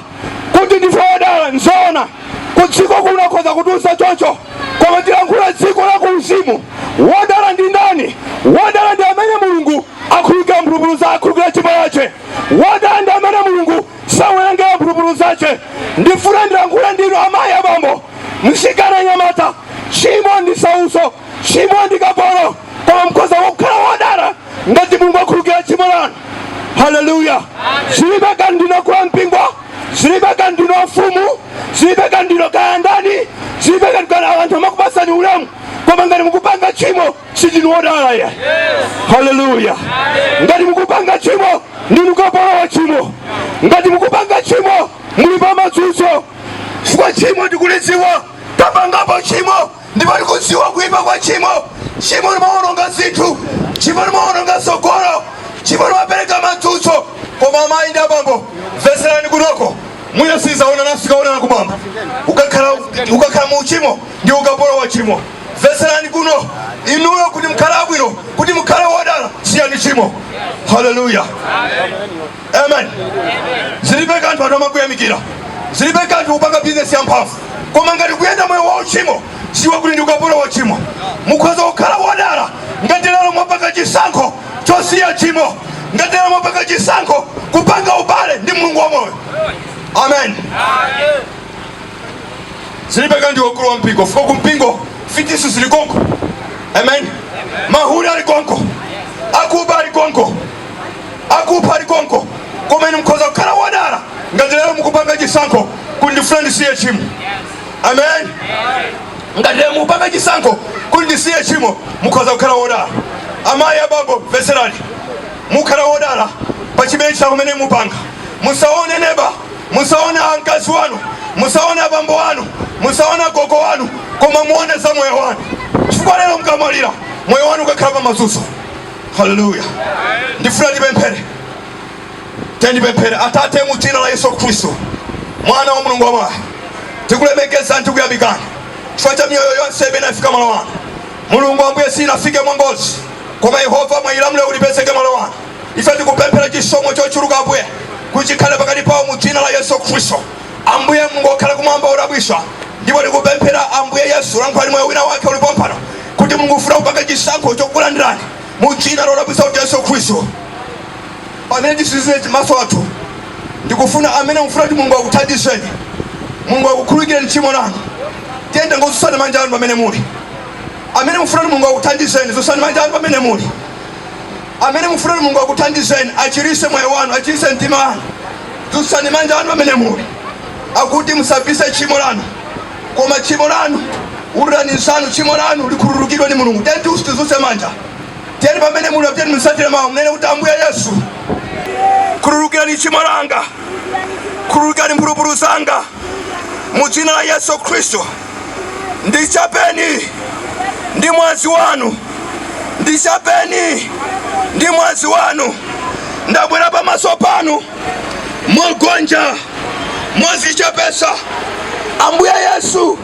kuti ndife odala nzoona kudziko kuno khoza kutiuza choncho koma tilankhula dziko la kuuzimu wodala ndi ndani wodala ndi amene mulungu akhululukira mphulupulu za akhululukira chimo lace wodala ndi amene mulungu sawerengera mphulupulu zace ndifuna ndilankhule ndinu amayi abambo mtsikana mnyamata chimo ndi sauso Tchimo ndi kapolo, koma mukhoza kukhala wodala ngati Mulungu akhululukira tchimo lanu. Haleluya! Zilibe kanthu ndinu akulu ampingo, zilibe kanthu ndinu afumu, zilibe kanthu ndinu kaya ndani, zilibe kanthu kaya ndinu anthu amakupatsani ulemu, koma ngati mukupanga tchimo sindinu wodala ya. Haleluya! Ngati mukupanga tchimo ndinu kapolo wa tchimo, ngati mukupanga tchimo muli pa matsutso, chifukwa tchimo ndikulidziwa, tapangapo tchimo ndipo ndikudziwa kuipa kwa tchimo tchimo limawononga zinthu tchimo limawononga tsogolo tchimo limapereka matsutso koma amayi ndi abambo mvetserani kunoko mwina sitizaonanaso tikaonana kumwamba ukakhala mu uchimo ndiwe kapolo wa chimo mvetserani kuno inuyo kuti mukhale bwino kuti mukhale wodala siyani chimo haleluya amen zilibe kanthu anthu amakuyamikira zilibe kanthu kupanga bizinesi yamphamvu koma ngati kuyenda moyo wa uchimo siwe kuti ndiwe kapolo wa chimo mukhoza kukhala wodala ngati lero mwapanga chisankho chosiya chimo ngati lero mwapanga chisankho kupanga ubale ndi mulungu wa moyo amen zilibe kanthu akulu a mpingo chifukwa ku mpingo mfiti zili konko amen mahule ali konko akuba ali konko akupha ali konko koma inu mkhoza kukhala wodala ngati lero mukupanga chisankho kuti ndifuna ndisiye chimo amen ngati lero mukupanga chisankho kuti ndisiye chimo mukhoza kukhala wodala amayi abambo mvetserani mukhala wodala pa chimene chisankho chimene mupanga musaone neba musaone akazi anu musaone abambo anu musaone agogo anu koma muone za moyo wanu chifukwa lero mukamwalira moyo wanu ukakhala pa mazunzo haleluya ndifuna ndipemphere tiyeni tipemphere atate mu dzina la yesu khristu mwana wa mulungu wamoyo tikulemekezani tikuyamikani chifukwa cha miyoyo yonse imene yafika malo ano mulungu ambuye siinafike mwangozi koma yehova mwayilamula kuti ipezeke malo ano ife tikupemphera chisomo chochuluka ambuye kuti chikhale pakati pawo mu dzina la yesu khristu Ambuye Mulungu okhala kumwamba wodabwisa, ndipo tikupemphera, Ambuye Yesu, lankhulani moyo wina wake uli pompano, kuti Mulungu akufuna kupanga chisankho chokulandirani mu dzina lodabwisa la Yesu Khristu. Pamene tisinzire maso athu, ndikufuna amene mufuna kuti Mulungu akuthandizeni, Mulungu akukhulukireni tchimo lanu, tiyeni ingozutsani manja anu pamene muli amene mufuna kuti Mulungu akuthandizeni, zutsani manja anu pamene muli amene mufuna kuti Mulungu akuthandizeni, achirise moyo wanu, achirise mtima wanu. Dzutsani manja anu pamene muli, akuti musabise tchimo lanu, koma tchimo lanu ululani kuti tchimo lanu likhululukidwe ni mulungu tiyeni tonse tizuse manja tiyeni pamene muli tiyeni musatire mawu munene kuti ambuye yesu khululukirani tchimo langa khululukirani mphulupulu zanga mu dzina la yesu khristu ndichapeni ndi mwazi wanu, ndichapeni ndi mwazi wanu. Ndabwera pamaso panu mogonja, mozichepesa. Ambuye Yesu,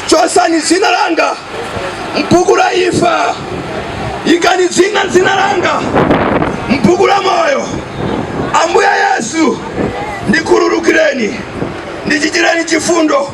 chosani zina langa mbuku la imfa, ikani zina zina langa mbuku la moyo. Ambuye Yesu, ndikhululukireni, ndichitireni chifundo.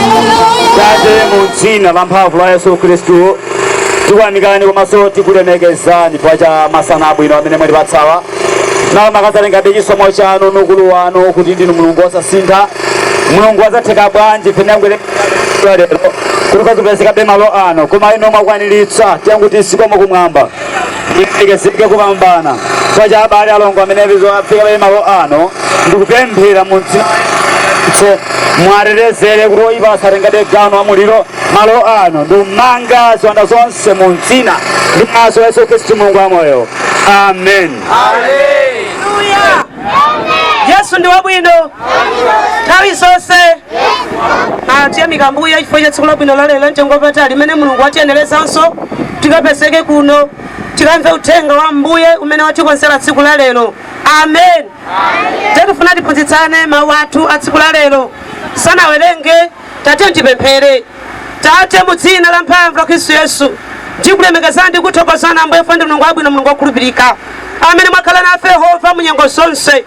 tate mu dzina la mphamvu la yesu khristu tikuyamikani komanso tikulemekezani chifukwa cha masana abwino amene mwatipatsawa inu mukadzatengabe chisomo chanu ndi ukulu wanu kuti ndinu mulungu wosasintha mulungu wazatheka bwanji tinayembekezera lero kuti tikazipezekabe malo ano koma inu mwakwaniritsa tikuti zikomo kumwamba Tiyerekezere kupambana chifukwa cha abale alongo amene afikabe malo ano ndi kupemphera mu dzina la Yesu. Muwatetezere kuti oyipa asatengebe gawo wamuliro malo ano ndi kumanga ziwanda zonse mu dzina ndi maso Yesu Khristu Mulungu wamoyo. Amen. Amen. yesu ndi wabwino nthawi zonse Ah, tiyamike ambuye chifukwa cha tsiku labwino la lero la mtengo wapatali limene mulungu watiyenerezanso tikapezeke kuno tikamve uthenga wa ambuye umene watikonzera tsiku la lero amen tikufuna tiphunzitsane mawu athu a tsiku la lero tisanawerenge tatiyeni tipemphere Tate, mu Dzina lamphamvu la Khristu Yesu, tikulemekezani ndi kukuthokozani, Ambuye, chifukwa ndinu Mulungu wabwino, Mulungu wokhulupirika, amene mwakhala nafe, Yehova, mu nyengo zonse,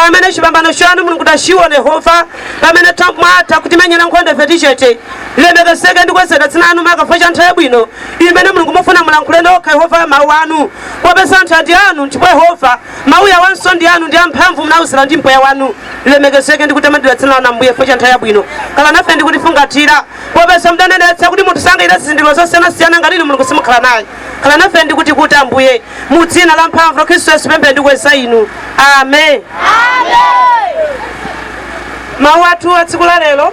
amene chipambano chanu, Mulungu, tachiona, Yehova, pamene ta- mwatha kutimenyera nkhondo ife tili chete. Lilemekezeke ndi kukwezedwa dzina lanu maka chifukwa cha nthawi yabwino imene, Mulungu, mufuna mulankhule nokha, Yehova, mawu anu, popeza anthuwa ndi anu, ndipo, Yehova, Mawu awonso ndi anu ndi amphamvu, munawuzira ndi mpweya wanu. Lilemekezeke ndi kutamandidwa dzina lanu Ambuye chifukwa cha nthawi yabwino. Khala nafe ndi kutifungatira. Popeza mudanenetsa kuti munthu sangachita zizindikiro zosiyanasiyana ngati inu Mulungu simukhala naye. Khala nafe ndi kutikuta Ambuye. Mu dzina la mphamvu la Khristu Yesu ndapemphera ndi kukweza inu. Amen. Mawu athu a tsiku la lero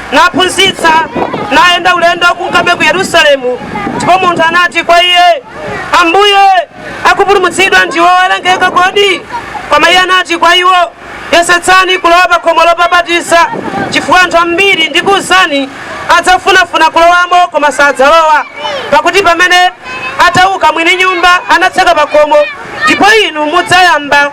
naphunzitsa nayenda ulendo kunkabe ku yerusalemu ndipo munthu anati kwa iye ambuye akupulumutsidwa ndiwo owerengeka kodi koma iye anati kwa iwo yesetsani kulowa pa khomo lopapatiza chifukwa anthu ambiri ndikuwuzani adzafunafuna kulowamo koma sadzalowa pakuti pamene atauka mwini nyumba anatseka pa khomo Ndipo inu mudzayamba,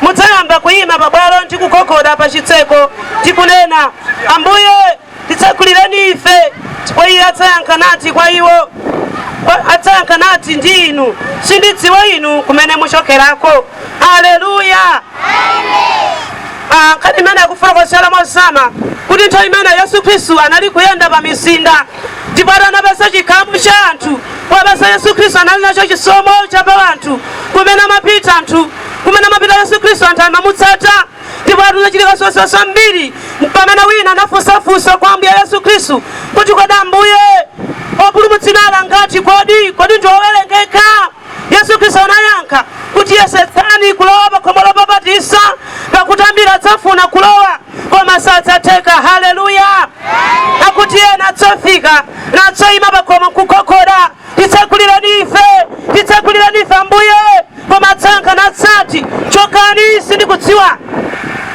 mudzayamba kuyima pabwalo ndi kugogoda pa chitseko, ndi kunena, Ambuye, titsekulireni ife. Ndipo iye adzayankha nati kwa iwo, adzayankha nati ndi inu, sindidziwa inu kumene muchokerako. Haleluya! Ah, nkhani imene akufotokozera mozama kuti nthawi imene yesu khristu anali kuyenda pa mizinda ndipo atinapeza chikhamu cha anthu popeza yesu khristu anali nacho chisomo cha pa anthu kumene amapita anthu kumene amapita yesu khristu anthu amamutsata ndipo atinachitika zozwitsa zambiri pamene wina anafunsafunsa kwa ambuye yesu khristu kuti kodi ambuye opulumutsidwa angati kodi kodi ndi owerengeka Yesu Kristu anayankha kuti, Yesetsani kulowa pa khomo lopapatiza, pakuti ambiri adzafuna kulowa, koma sadzatheka. Haleluya! Akuti ena adzafika nadzayima pa khomo n'kugogoda, Titsegulireni ife, titsegulireni ife Ambuye! Koma adzayankha nadzati, Chokani, sindikudziwa.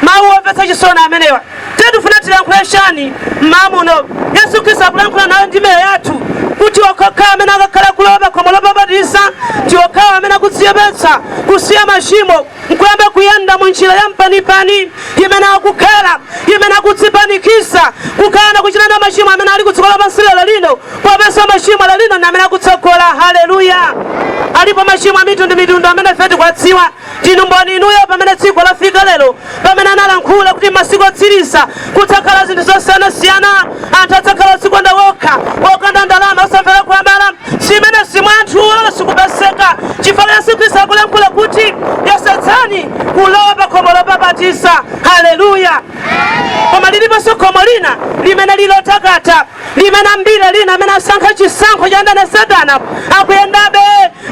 Mawu omvetsa chisoni amenewa. Ndiye tifuna tilankhule chani mmawa muno? Yesu Khristu akulankhula nayo ndi miyoyo yathu kuti okhaokhawo amene akakhala kulowa pa khomo lopapatiza ndi okhawo amene akudzichepetsa kusiya machimo nkuyamba kuyenda mu njira ya mpanipani imene akukhala imene akudzipanikiza kukana kuchita nawo machimo amene ali kudziko lapansi lero lino popeza machimo lero lino ndi amene akutsogola haleluya alipo machimo a mitundu mitundu amene ife tikuwadziwa ndinu mboni inuyo pamene dziko lafika lero pamene analankhula kuti mmasiku otsiriza kudzakhala zinthu zosiyanasiyana anthu adzakhala odzikonda wokha okonda ndalama osamvera akuwabala chimene mwa anthu lero chikupezeka chifukwa yesu khristu akulankhula kuti yesetsani kulowa pa khomo lopapatiza haleluya koma liliponso khomo lina limene lilotakata limene ambiri lerolino amene asankha chisankho cha mdani satana akuyendabe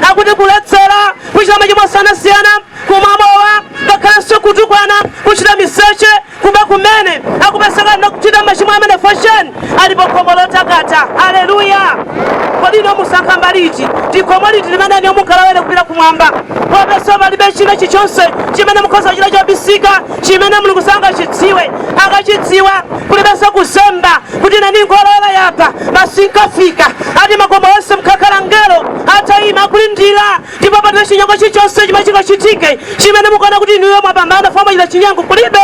akupita kuledzera kuchita machimo osiyanasiyana kumamowa ngakhalenso kutukwana kuchita miseche kuba kumene akupezeka akuchita machimo amene fosheni ali pakhomo lotakata aleluya kodi ino musankha mbali iti khomo liti limene inuyo mukalowere kupita kumwamba popeza palibe china chichonse chimene mukhoza kuchita chobisika chimene mulungu sangachidziwe akuchidziwa kulibenso kuzemba kuti nane ndingolowera apa masinkafika ati m'makomo onse mukakhala ngelo atayima akulindira ndipo palibe chinyengo chilichonse chimene chingachitike chimene mukaona kuti inuyo mwapambana fumbi achita chinyengo kulibe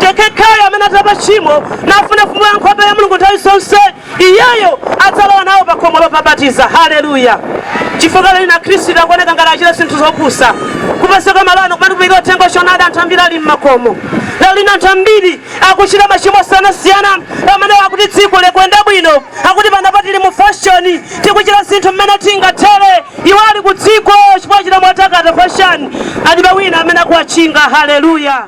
yekhayo amene atalapa tchimo nafunafuna nkhope ya mulungu nthawi zonse Iyeyo adzalowa nawo pa khomo lopapatiza. Haleluya! Chifukwa lero lino Akhristu tikuoneka ngati achita zinthu zopusa. Kupezeka malo ano kumalalikira uthenga wa choonadi anthu ambiri ali m'makomo. Lero lino anthu ambiri akuchita machimo osiyanasiyana amene akuti dziko likuyenda bwino, akuti panopa tili mu fashoni, tikuchita zinthu mmene tingathere. Iwo ali ku dziko chipata chotakata fashoni, alibe wina amene akuwatchinga. Haleluya!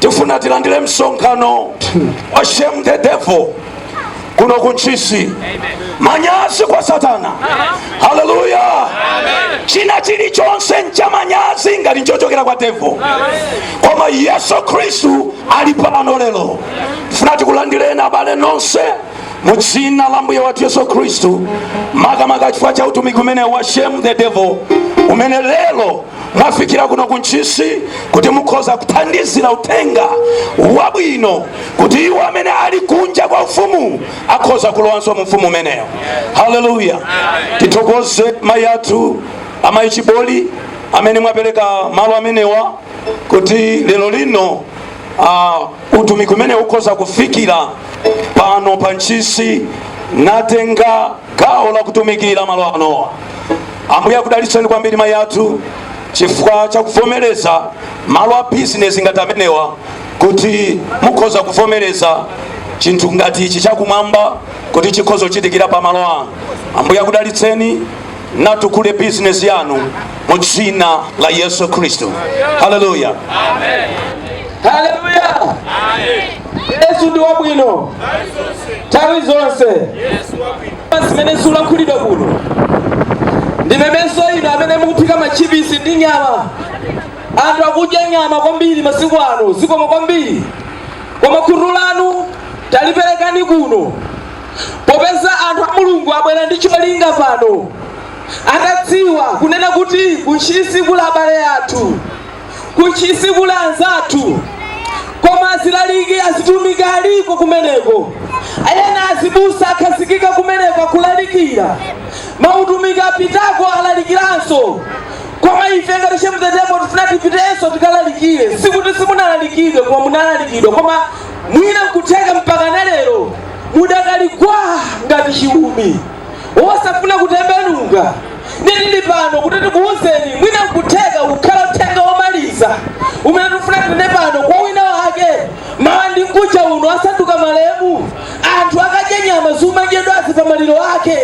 tifuna tilandire msonkhano wa shame the devil kuno kuntchisi manyazi kwa satana haleluya china chilichonse ncha manyazi ngati nchochokera kwa devo koma yesu khristu ali pano lero tifuna tikulandireni abale nonse mu dzina la ambuye wathu yesu khristu makamaka chifukwa cha utumiki umenewu wa shame the devil umene lero mwafikira kuno ku ntchisi kuti mukhoza kuthandizira uthenga wabwino kuti iwo amene ali kunja kwa ufumu akhoza kulowanso mu ufumu umenewo haleluya tithokoze mayi athu amayi chiboli amene mwapereka malo amenewa kuti lero lino uh, utumiki umenewu ukhoza kufikira pano pa ntchisi natenga gawo la kutumikira malo ano. Ambuye akudalitseni kwambiri mayi athu chifukwa cha kuvomereza malo a bizinesi ngati amenewa kuti mukhoza kuvomereza chinthu ngati ichi chakumwamba kuti chikhoza kuchitikira pa malo anu. Ambuye akudalitseni natukule bizinesi yanu mu dzina la Yesu Khristu. Haleluya. yesu ndi wabwino nthawi zonse zimene zikulankhulidwa kuno ndimemenso ndi inu amene mukuphika machipisi ndi nyama anthu akudya nyama kwambiri masiku ano zikoma kwambiri koma khutu lanu taliperekani kuno popeza anthu a mulungu abwera ndi cholinga pano atadziwa kunena kuti kuntchisi kuli abale athu ku Ntchisi kuli anzathu koma azilaliki azitumiki aliko kumeneko ena azibusa akhazikika kumeneko akulalikira mautumiki apitako alalikiranso koma ife ngati chemtetemo tifuna tipitenso tikalalikire sikuti simunalalikidwe koma munalalikidwa koma mwina nkutheka mpaka na lero mudakali gwa ngati chiumi osafuna kutembenuka ndiye tili pano kuti tikuwuzeni mwina nkutheka kukhala uthenga womaliza umene tikufuna tinene pano kwa wina wake mawa ndi mkuja uno asanduka malemu anthu akadya nyama ziumadyedwazi pa maliro ake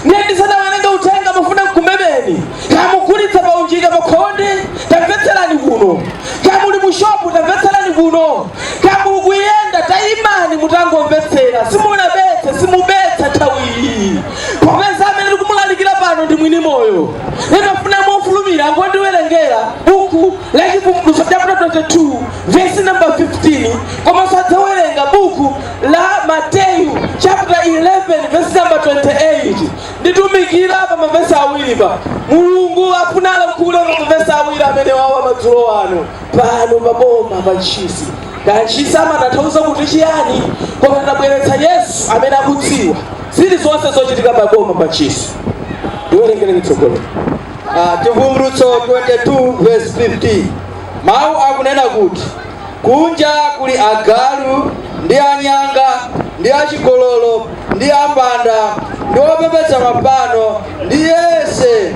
ndiye ndisanawerenge uthenga ndafuna ndikumemeni kaya mukugulitsa kaunjika pakhonde tamvetserani kuno kaya muli mushopu tamvetserani kuno kaya mukuyenda tayimani mutangomvetsera simunabetse simubetsa nthawiyi popeza amene tikumulalikira pano ndi mwini moyo ndiye ndafuna mofulumira mungondiwerengera buku la chivumbulutso chapter 22 vesi namba 15 komanso adzawerenga buku la mateyu chapter 11 vesi namba 28 nditumikira pa mavesi awiri pa mulungu afuna alankhule pa mavesi awiri amenewawa madzulo ano pano pa boma pa ntchisi kaya ntchisi amatanthauza kuti chiyani koma ndabweretsa yesu amene akudziwa zili zonse zochitika pa boma pa ntchisi ndiwerengere mtsogoleri Ah, chivumbulutso 22 verse 15 mawu akunena kuti kunja kuli agalu ndi anyanga ndi achigololo ndi ambanda ndi opembedza mafano ndi yense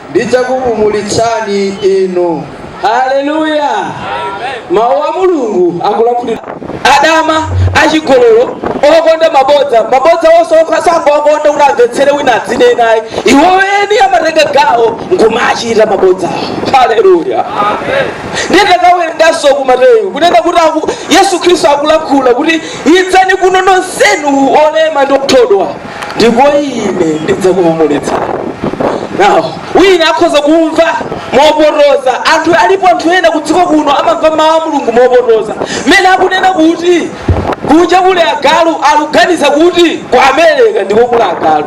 ndidzakupumulitsani inu. Haleluya! Mawu a Mulungu akulankhula adama, achigololo, okonda mabodza. Mabodza wosati okha sangowakonda kuti amvetsere wina adzinena ayi. Iwo eni amatenga gawo nkumachita mabodzawo. Haleluya! Ndiye takawerenganso ku Mateyu kunena kuti aku- Yesu Khristu akulankhula kuti idzani kuno nonsenu olema ndi othodwa ndipo ine ndidzakupumulitsani inu wina akhoza kumva mopotoza anthu alipo anthu ena kudziko kuno amamva mawu a mulungu mopotoza mmene akunena kuti kunja kuli agalu akuganiza kuti ku america ndiko kuli agalu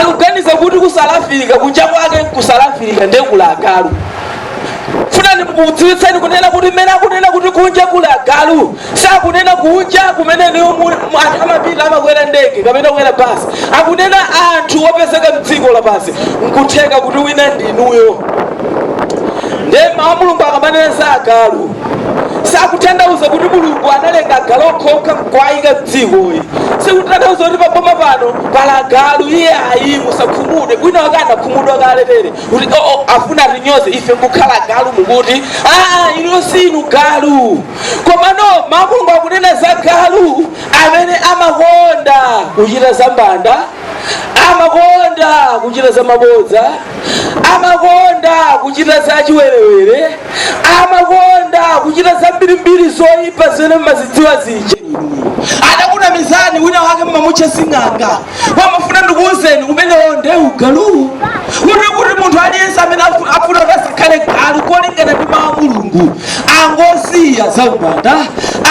akuganiza kuti ku south africa kunja kwake ku south africa ndiye kuli agalu ndifuna ndikudziwitseni kunena kuti mmene akunena kuti kunja kuli agalu sakunena kunja kumene niyo mu- mu- anthu amapita amakwera ndege kapena kukwera basi akunena za anthu opezeka mdziko lapansi nkutheka kuti wina ndinuyo ndiye mawu mulungu akamanena za agalu sakutanthauza kuti mulungu analenga agalu okhaokha nkuwayika mdzikoyi sikutanthauza kuti paboma pano pali agalu iyayi musakhumudwe wina wake anakhumudwa kale tere kuti oo afuna atinyoze ife nkukhala agalu mukuti aa inuyo sinu galu komano mawu a mulungu akunena za galu amene amakonda kuchita za mbanda amakonda kuchita za mabodza amakonda kuchita za chiwerewere amakonda kuchita za mbirimbiri zoyipa zimene mumazidziwa zija adakunamizani wina wake mmamutcha sing'anga koma ndifuna ndikuuzeni umenewo nde ugaluwu kuti kuti munthu aliyense amene afu- afuna kuti asakhale galu molingana ndi mawu a mulungu angosiya za umbanda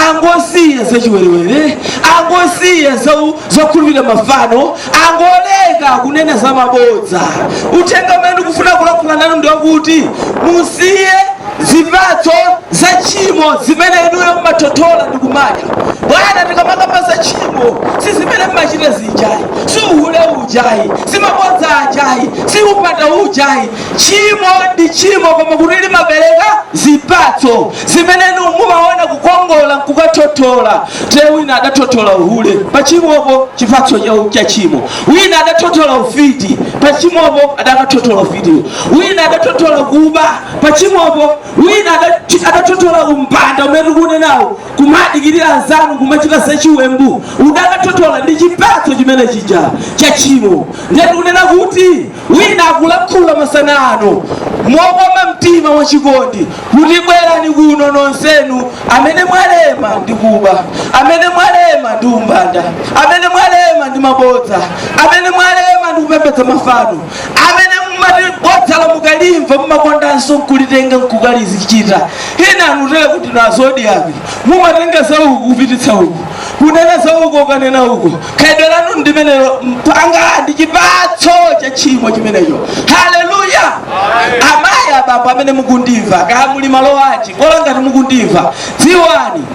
angosiya za chiwerewere angosiya za u- zokhulupirira mafano angoleka kunena za mabodza uthenga umene ndikufuna kulankhula nanu ndi wakuti musiye zipatso za tchimo zimene inuyo mmathothola ndi kumadya bwana tikamakamba za tchimo si zimene mmachita zijayi si uhule uja ayi si mabodza aja ayi si umbanda uja ayi tchimo ndi tchimo koma kuti limabereka zipatso zimene inu mumaona kukongola nkukathothola te wina adathothola uhule pa tchimopo chipatso cha- cha tchimo wina adathothola ufiti pa tchimopo adakathothola ufitiwo wina adathothola kuba pa tchimopo wina adathothola umbanda umene tikuunenawu kumawadikirira anzanu nkumachita zachiwembu udakathothola ndi chipatso chimene chija cha tchimo ndiye tikunena kuti wina akulankhula masana ano mokoma mtima wachikondi kuti bwerani kuno nonsenu amene mwalema ndi kuba amene mwalema ndi umbanda amene mwalema ndi mabodza amene mwalema ndi kupembedza mafano amene mumati bodzalo mukalimva mumakondanso nkulitenga nkukalizichita ena anutele kuti nazodi abi mumatenga za uku kupititsa uku kunena za uku ukanena uku khalidwe lanu ndi limenelo mnzanga ndi chipatso cha tchimo chimenecho haleluya amayi abambo amene mukundimva kaya muli malo anji kola ngati mukundimva dziwani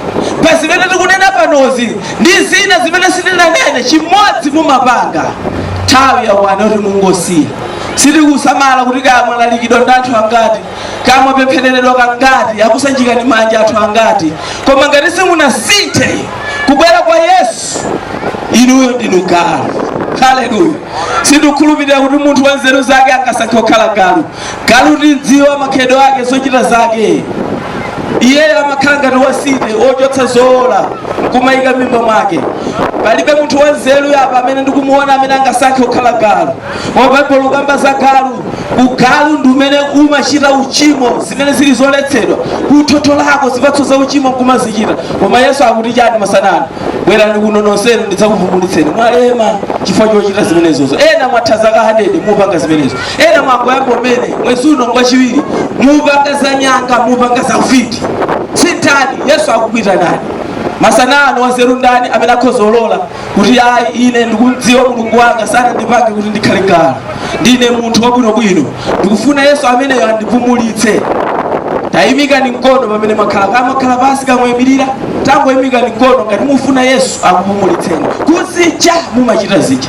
pa zimene tikunena panozi ndi zina zimene sindinanene chimodzi mumapanga nthawi yakwana yoti mungosiya sindikusamala kuti kaya mwalalikidwa ndi anthu angati kaya mwapemphereredwa kangati akusanjikani manja anthu angati koma ngati simunasinthe kubwera kwa yesu inuyo ndinu galu haleluya sindikukhulupirira kuti munthu wanzeru zake angasankhe kukhala galu galu timdziwa makhalidwe ake zochita zake iyeyo amakhala ngati wasiti wochotsa zowola nkumayika mimba mwake palibe munthu wanzeru apa amene ndikumuona amene angasankhe kukhala galu koma baibulo likamba za galu ugalu ndi umene umachita uchimo zimene zili zoletsedwa kuthotho lako zipatso za uchimo nkumazichita koma yesu akuti chani masana ano bwerani kuno nonsenu ndidzakupumulitseni mwalema chifukwa chochita zimenezozo ena mwatha zaka 100 mupanga zimenezo Ena mwangoyamba kumene, mwezi uno ngwachiwiri, mupanga za nyanga, mupanga za ufiti. Sinthani! Yesu akukuitanani masana ano. Wanzeru ndani amene akhoza kulola kuti, Ayi, ine ndikumdziwa Mulungu wanga, sanandipange kuti ndikhale galu. Ndine munthu wabwinobwino, ndikufuna Yesu ameneyo andipumulitse. Tayimikani mkono pamene mwakhala, kaya mwakhala pansi kaya mwayimilira, tangoyimikani mkono ngati mufuna Yesu akupumulitseni. Kuzija mumachita zija.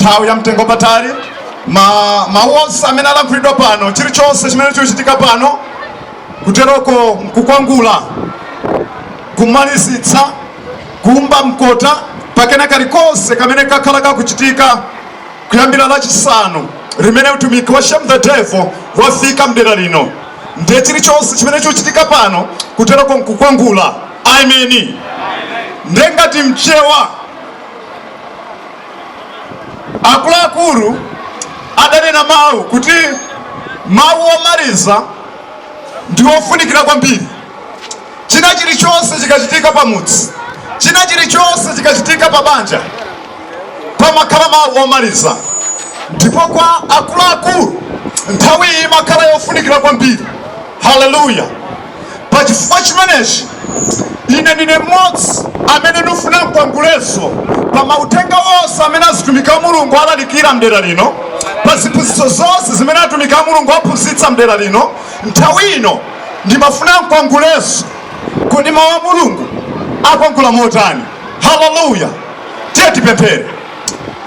nthawi ya mtengo patali mawu onse amene alankhulidwa pano chilichonse chimene chikuchitika pano kuteroko nkukwangula kumalizitsa kuumba mkota pa kena kalikonse kamene kakhala kakuchitika kuyambira lachisanu mmene utumiki wa shame the devil wafika mdera lino ndiye chilichonse chimene chikuchitika pano kuteroko nkukwangula ameni ndiye ngati mchewa akuluakulu adanena mawu kuti mawu omaliza ndi ofunikira kwambiri china chilichonse chikachitika pamudzi china chilichonse chikachitika pa banja pamakhala mawu omaliza ndipo kwa akuluakulu nthawi iyi imakhala yofunikira kwambiri haleluya Pa chifukwa chimenechi, ine ndine m'modzi amene ndifuna nkwangulenso pa ma uthenga onse amene azitumiki a Mulungu alalikira m'dera lino, pa ziphunzitso zonse zimene atumiki a Mulungu aphunzitsa m'dera lino. Nthawi ino ndimafuna nkwangulenso. Kodi Mau a Mulungu akwangula motani? Hallelujah! Tiyeni tipemphere.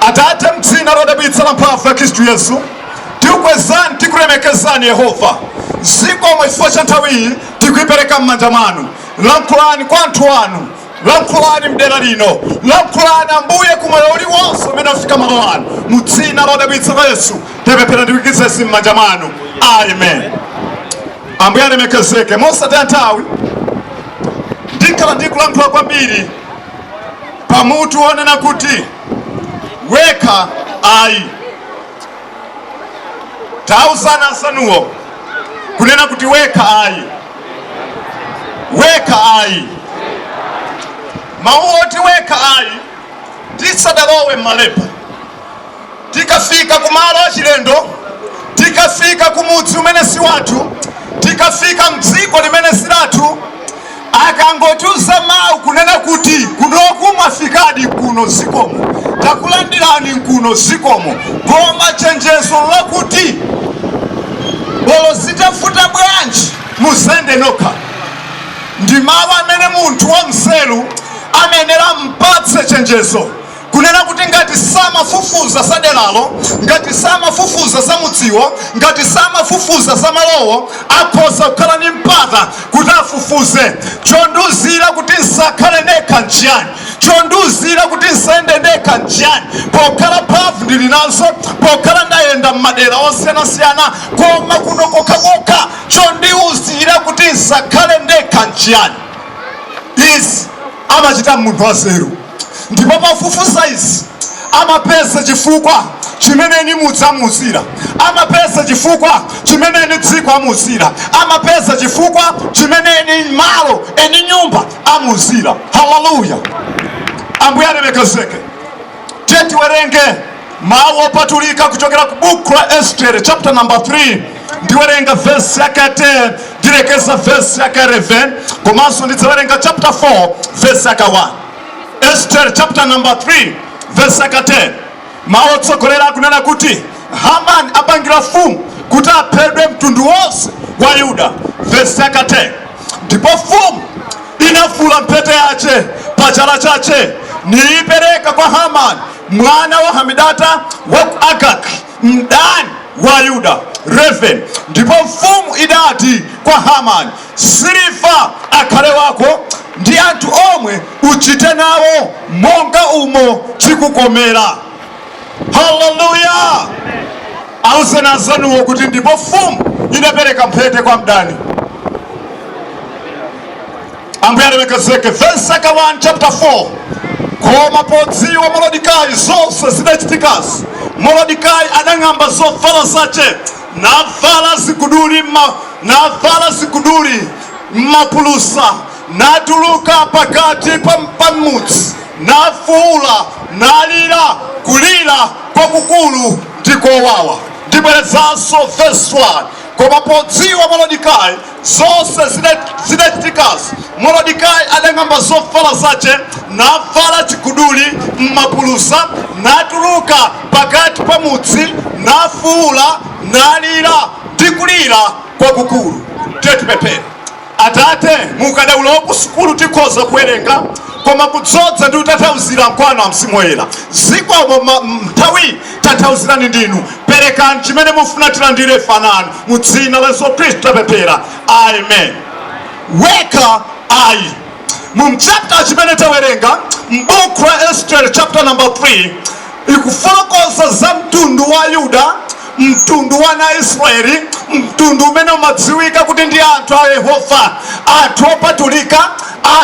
Atate, m'dzina lodabwitsa lamphamvu la Khristu Yesu, tikukwezani, tikulemekezani Yehova. Zikomo chifukwa cha nthawi iyi tikuipereka m'manja mwanu. Lankhulani kwa anthu anu, lankhulani mdera lino, lankhulani Ambuye ku moyo uliwonse umene afika malo ano. Mu dzina lodabwitsa la Yesu tipemphera ndi kuikiza izi m'manja mwanu, amen. Ambuye alemekezeke. Mosataya nthawi ndikhala ndikulankhula kwambiri pamutu wonena kuti wekha ayi tauzani anzanuwo kunena kuti wekha ayi wekha ayi mawu oti wekha ayi tisanalowe m'malemba tikafika ku malo achilendo, tikafika ku mudzi umene si wathu, tikafika mdziko limene si lathu, akangotiuza mawu kunena kuti kunoku mwafikadi kuno zikomo, takulandirani nkuno zikomo, koma chenjezo lakuti olo zitavuta bwanji musayende nokha, ndi mawu amene munthu wanzeru amayenera zimpatse chenjezo. Kunena kuti ngati sanafufuze za deralo, ngati sanafufuze za mudziwo, ngati sanafufuze za malowo, akhoza kukhala ndi mpata kuti afufuze. Chondiuzira kuti nsakhale ndekha nchiyani? Chondiuzira kuti nsayende ndekha nchiyani pokhala mphamvu ndili nazo, pokhala ndayenda m'madera osiyanasiyana? Koma kuno kokhakokha chondiuzira kuti nsakhale ndekha nchiyani? Izi amachita munthu wanzeru. Ndipo pofufuza izi, amapeza chifukwa chimene eni mudzi amuuzira, amapeza chifukwa chimene eni dziko amuuzira, amapeza chifukwa chimene eni malo, eni nyumba amuuzira. Haleluya! Ambuye alemekezeke. Tiyeni tiwerenge Mawu opatulika kuchokera ku buku la Estere chapter number 3 ndiwerenga vesi yake ya 10 ndilekeza vesi yake ya 11 komanso ndidzawerenga chapter 4 vesi yake 1 Estere chapter number 3 vesi yake 10 mawu otsogolera akunena kuti Haman apangira mfumu kuti aphedwe mtundu wonse wa Yuda vesi yake 10 ndipo mfumu inavula mphete yace pa chala chace niipereka kwa Hamani mwana wa Hamidata wa ku Agagi, mdani wa Ayuda, Eleven. Ndipo mfumu idati kwa Hamani, siliva akhale wako ndi anthu omwe uchite nawo monga umo chikukomera. Haleluya! Awuzeni anzanuwo kuti ndipo mfumu idapereka mphete kwa mdani. Ambuye alemekezeke. Vesi yake 1 chapter 4 Koma podziwa Moredikayi zonse zidachitikazi, Moredikayi adang'amba zovala zace, navala chiguduli mma- navala chiguduli ndi mapulusa, natuluka pakati pa, pa mudzi, nafuula, nalira kulira kwakukulu ndi kowawa. Ndibwerezanso verse 1 koma podziwa Moredikayi Zonse zidachitikazi, Morodekayi adang'amba zovala zace, navala chiguduli m'mapulusa, natuluka pakati pa mudzi, nafuula, nalira ndi kulira kwakukulu. Tiyeni tipemphere. Atate, mu ukadaulo wa kusukulu tikhoza kuwerenga, koma kudzodza ndi kutanthauzira nkwanu a Mzimu Woyera. Zikomo m'nthawiyi. tanthauzirani ndinu perekani chimene mufuna tilandire fanani mu dzina la yesu khristu tapemphera amen morodekayi mu mchapta chimene tawerenga m'buku la estere chapter number 3 ikufotokoza za mtundu wa yuda mtundu wa ana israeli mtundu umene umadziwika kuti ndi anthu a yehova anthu opatulika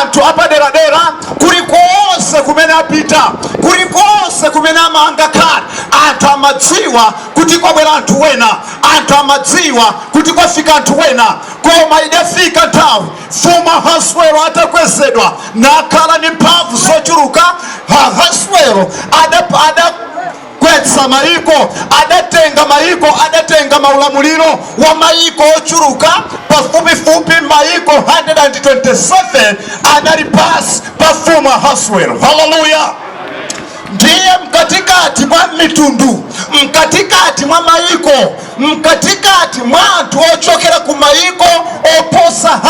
anthu apaderadera kulikonse kumene apita kulikonse kumene ama angakhale anthu amadziwa kuti kwabwera anthu wena anthu amadziwa kuti kwafika anthu wena koma idafika nthawi mfumu ahaswero atakwezedwa nakhala ndi mphamvu zochuluka ahaswero ada, ada gwetsa maiko adatenga maiko adatenga maulamuliro wa maiko ochuluka pafupifupi maiko 127 anali pansi pa mfumu ahaswero haleluya ndiye mkatikati mwa mitundu mkatikati mwa maiko Mkatikati mwa anthu ochokera ku mayiko oposa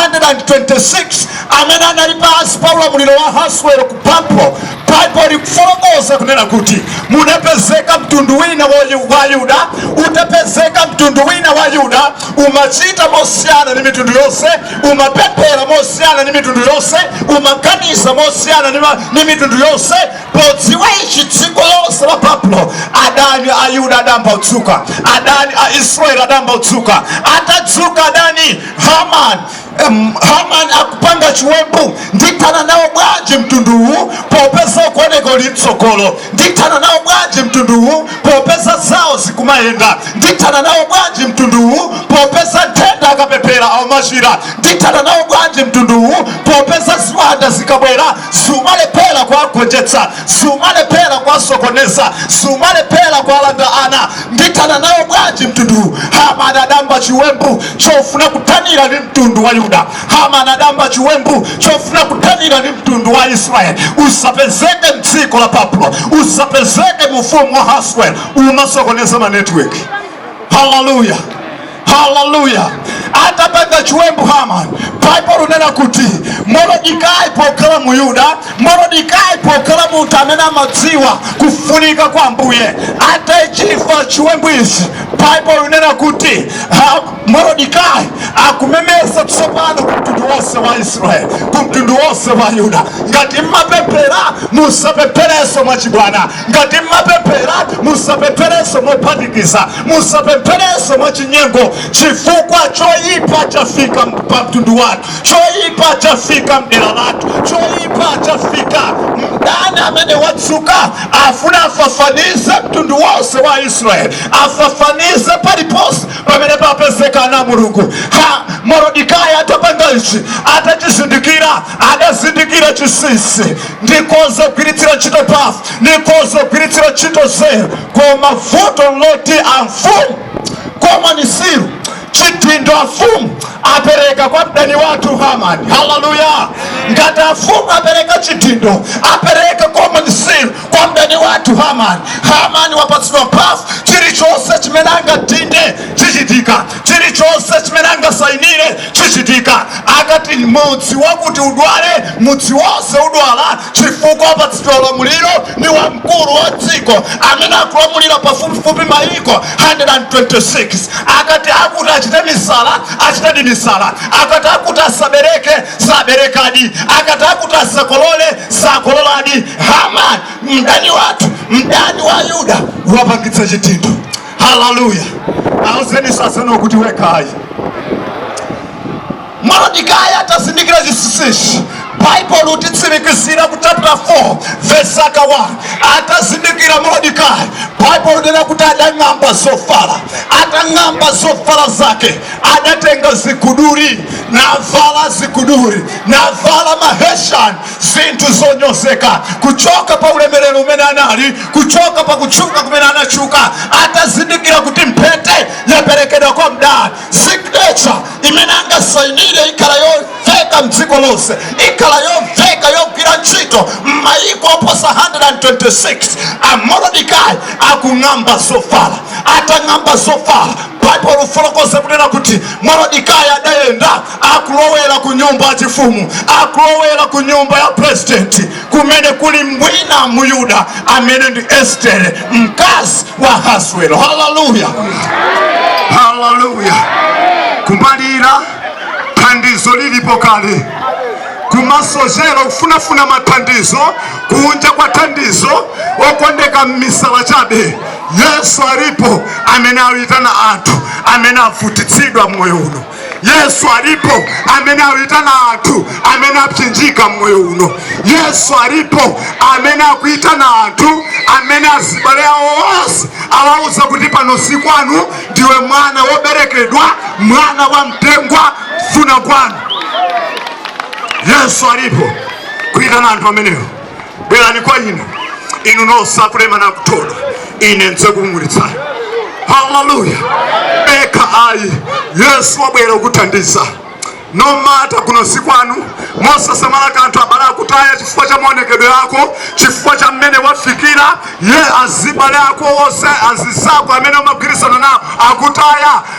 126 amene anali pansi pa ulamuliro wa Ahaswero ku Babulo, Baibulo likufotokoza kunena kuti, Munapezeka mtundu wina wa, wa Ayuda, utapezeka mtundu wina wa Ayuda umachita mosiyana ndi mitundu yonse, umapemphera mosiyana ndi mitundu yonse, umaganiza mosiyana ndi mitundu yonse. Podziwa ichi dziko lonse la Babulo, adani a Yuda adayamba kudzuka, adani a Israeli adayamba kudzuka. Atadzuka adani Haman, em, Haman akupanga chiwembu, ndithana nawo bwanji mtunduwu popeza ukuoneka uli mtsogolo? Ndithana nawo bwanji mtunduwu popeza zawo zikumayenda? Ndithana nawo bwanji mtunduwu popeza nthenda akapemphera akumachira? Ndithana nawo bwanji mtunduwu popeza ziwanda zikabwera zikumalephera kuwagonjetsa zikumalephera kuwasokoneza zikumalephera kuwalanda ana ndithana nawo bwanji mtunduwu hamani adayamba chiwembu chofuna kuthanira ndi mtundu wa yuda hamani adayamba chiwembu chofuna kuthanira ndi mtundu wa israeli usapezeke mdziko la babulo usapezeke mu ufumu wa ahaswero umasokoneza manetiweki haleluya haleluya atapanga chiwembu hamani baibulo linena kuti morodikayi pokhala mu yuda morodikayi pokhala munthu amene amadziwa kufunika kwa ambuye atachimva chiwembu ichi baibulo linena kuti ha- morodikayi akumemeza tsopano ku mtundu wonse wa israeli ku mtundu wonse wa yuda ngati mmapemphera musapempherenso mwachibwana Ngati m'mapemphera, musapempherenso mophatikiza. Musapempherenso mwachinyengo, chifukwa choipa chafika pa mtundu wathu, choipa chafika m'dera lathu, choipa chafika. Mdani amene wadzuka afuna afafanize mtundu wonse wa Israeli, afafanize paliponse pamene papezeka ana a Mulungu. Ha, Morodikayi atapanga ichi, atachizindikira adazindikira chinsinsi nditkhoza kugwiritsira ntchito mphamvu nditkhoza kugwiritsira ntchito nzeru koma vuto loti amfumu common seal chidindo amfumu apereka kwa mdani wathu hamani haleluya ngati amfumu apereka chidindo apereka common seal kwa mdani wathu hamani hamani wapatsidwa mphamvu chilichonse chimene angadinde chichitika chilichonse chimene angasainire chichitika. Akati mudzi wakuti udwale, mudzi wonse udwala chifukwa wapatsidwa ulamuliro ndi wamkulu wa dziko amene akulamulira pafupifupi mayiko 126. Akati akuti achite misala, achitadi misala. Akati akuti asabereke, saberekadi. Akati akuti asakolole, sakololadi. Hamani mdani wathu, mdani wa Ayuda, wapatsidwa chidindo. haleluya auzeni sasana kuti wekhayi morodikayi atazindikira chinsinsichi baibulo lititsimikizira ku chapter 4 verse 1 atazindikira morodikayi baibulo linena kuti adang'amba zovala atang'amba zovala zake adatenga ziguduli navala ziguduli navala mahesiani zinthu zonyozeka kuchoka pa ulemerero umene anali kuchoka pa kutchuka kumene anatchuka atazindikira kuti mphete yaperekedwa kwa mdani signature imene angasainire ikhala yomveka mdziko lonse ikhala yomveka yogwira ntchito m'mayiko oposa 126 amorodikayi akung'amba zovala atang'amba zovala baibulo lifotokoza kunena kuti morodikayi adayenda akulowera ku nyumba ya chifumu akulowera ku nyumba ya president kumene kuli mbwiye m'Yuda amene ndi estere mkazi wa ahaswero haleluya haleluya kumalira thandizo lilipo kale kumasochera kufunafuna mathandizo kunja kwa thandizo okondeka m'misala chabe yesu alipo amene akuitana anthu amene avutitsidwa mmoyo uno yesu alipo amene akuyitana anthu amene apsinjika mmoyo uno yesu alipo amene akuyitana anthu amene azibale awo onse awauza kuti pano si kwanu ndiwe mwana woberekedwa mwana wa mtengwa funa kwanu yesu alipo kuyitana anthu amenewo bwerani kwa ine inu nonse akulema nakuthodwa ine ndidzakupumulitsani haleluya wekha ayi yesu wabwera kukuthandiza nomati kuno si kwanu mosasamala kanthu abale akutaya chifukwa cha maonekedwe ako chifukwa cha mmene wafikiramu azibale ako onse azizako amene umagwirizana nawo akutaya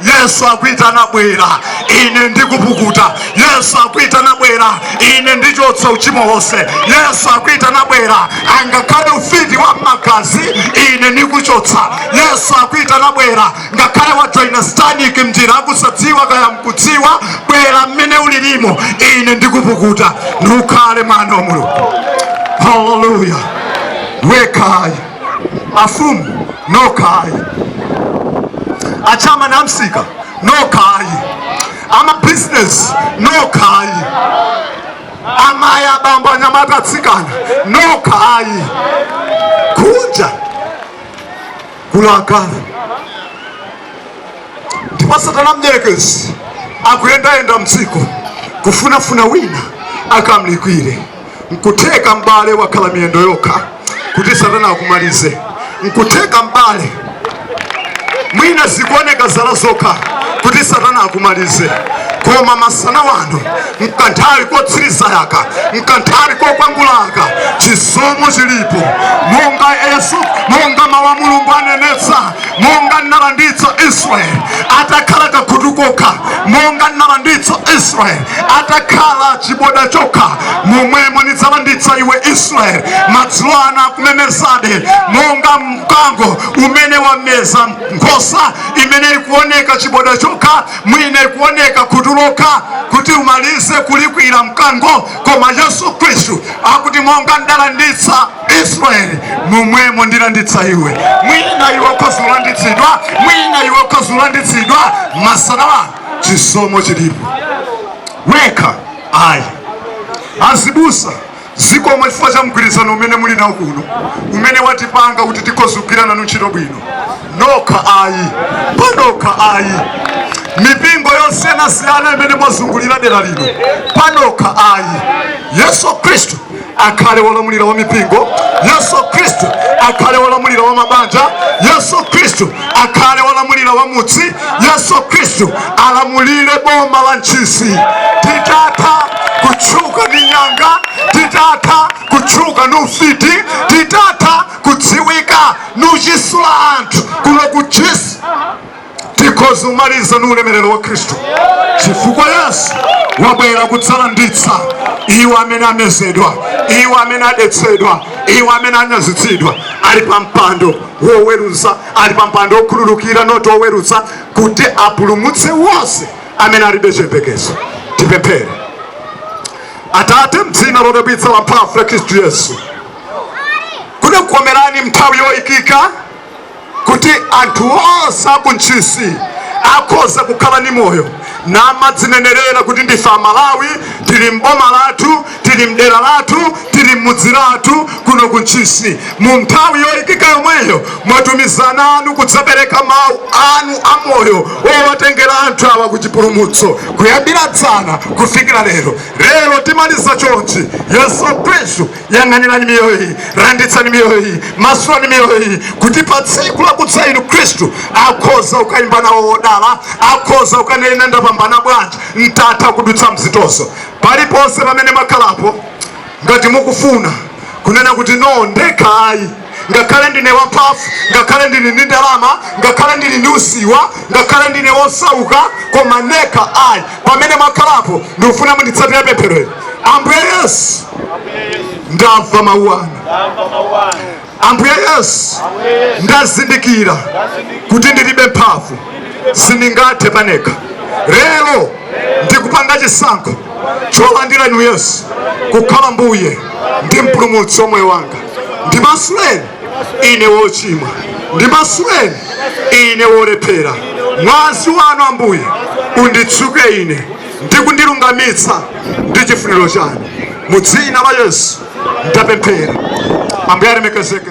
yesu akuitana bwera ine ndikupukuta yesu akuitana bwera ine ndichotsa uchimo wonse yesu akuitana bwera angakhale ufiti wa mmagazi ine ndikuchotsa yesu akuitana bwera ngakhale wajoina satanic mnjira yakusadziwa kaya mkudziwa bwera mmene ulirimo ine ndikupukuta niukhale mwana wa mulungu haleluya wekha ayi Afumu nokha ayi, achairman amsika nokha ayi, amabizinesi nokha ayi, amayi abambo anyamata atsikana nokha ayi, kunja kulakwa ndipo satana mdyerekezi akuyendayenda mdziko kufunafuna wina akamulikwire. nkutheka m'bale wakhala miyendo yokha kuti satana akumalize nkutheka m'bale mwina zikuoneka zala zokha kuti satana akumalize koma masana wano mkanthawi kotsirizaka mkanthawi kokwangulaka chisomo chilipo monga yesu monga mawu a mulungu anenetsa monga ndinalanditsa israeli atakhala kakhutu kokha monga ndinalanditsa israeli atakhala chiboda chokha momwemo ndidzalanditsa iwe israeli madzulo ano akumezabe monga mkango umene wameza nkhosa imene ikuoneka chiboda chokha mwina ikuoneka khutu lokha kuti umalize kulikwira mkango koma yesu khristu akuti monga ndalanditsa israeli momwemo ndilanditsa iwe mwina iwe ukhoza kulanditsidwa mwina iwe ukhoza kulanditsidwa masanawa chisomo chilipo wekha ayi azibusa zikomo chifukwa cha mgwirizano umene muli nawo kuno umene watipanga kuti tikhoza kugwira nanu ntchito bwino nokha ayi panokha ayi mipingo yosiyanasiyana imene mwazungulira dera lino panokha ayi yesu khristu akhale wolamulira wa mipingo yesu khristu akhale wolamulira wa mabanja yesu khristu akhale wolamulira wa mudzi yesu khristu alamulire boma la ntchisi titatha kutchuka ndi nyanga titatha kutchuka ndi ufiti titatha kudziwika ndi uchisula anthu kuno ku ntchisi tikhoza kumaliza ndi ulemerero wa khristu chifukwa yesu wabwera kudzalanditsa iwo amene amezedwa iwo amene adetsedwa iwo amene anyazitsidwa ali pa mpando woweruza ali pa mpando wokhululukira not woweruza kuti apulumutse wonse amene alibe chiyembekezo tipemphere atate mdzina lodabwitsa la mphamvu la khristu yesu kudakukomerani munthawi yoyikika kuti anthu onse a ku Ntchisi akhoza kukhala ndi moyo namadzinenelera kuti ndife a Malawi, tili m'boma lathu, tili m'dera lathu, tili m'mudzi lathu kuno ku Ntchisi. Mu nthawi yoikika yomweyo mwatumiza ana anu kudzapereka mau anu a moyo owatengera anthu awa ku chipulumutso kuyambira dzana kufikira lero. Lero timaliza chonchi. Yesu Khristu. yang'anirani miyoyo iyi landitsani miyoyo iyi masulani miyoyo iyi kuti pa tsiku lakudza inu khristu akhoza kukayimba nawo wodala akhoza kukanena ndapambana bwanji nditatha kudutsa mzitozo paliponse pamene mwakhalapo ngati mukufuna kunena kuti no ndekha ayi ngakhale ndine wamphamvu, ngakhale ndili ndi ndalama, ngakhale ndili ndi usiwa, ngakhale ndine wosauka, koma nekha ayi. Pamene mwakhalapo, ndikufuna munditsatire pemphero ili. Ambuye Yesu, ndamva mawu anu. Ambuye Yesu, ndazindikira kuti ndilibe mphamvu, sindingathe panekha. Lero ndikupanga chisankho cholandira inu Yesu kukhala Mbuye ndi mpulumutsi wa moyo wanga. ndimasuleni ine wochimwa ndimasuleni ine wolephera mwazi wanu ambuye unditsuke ine ndi kundilungamitsa ndi chifuniro chanu mu dzina la yesu ndapemphera ambuye alemekezeke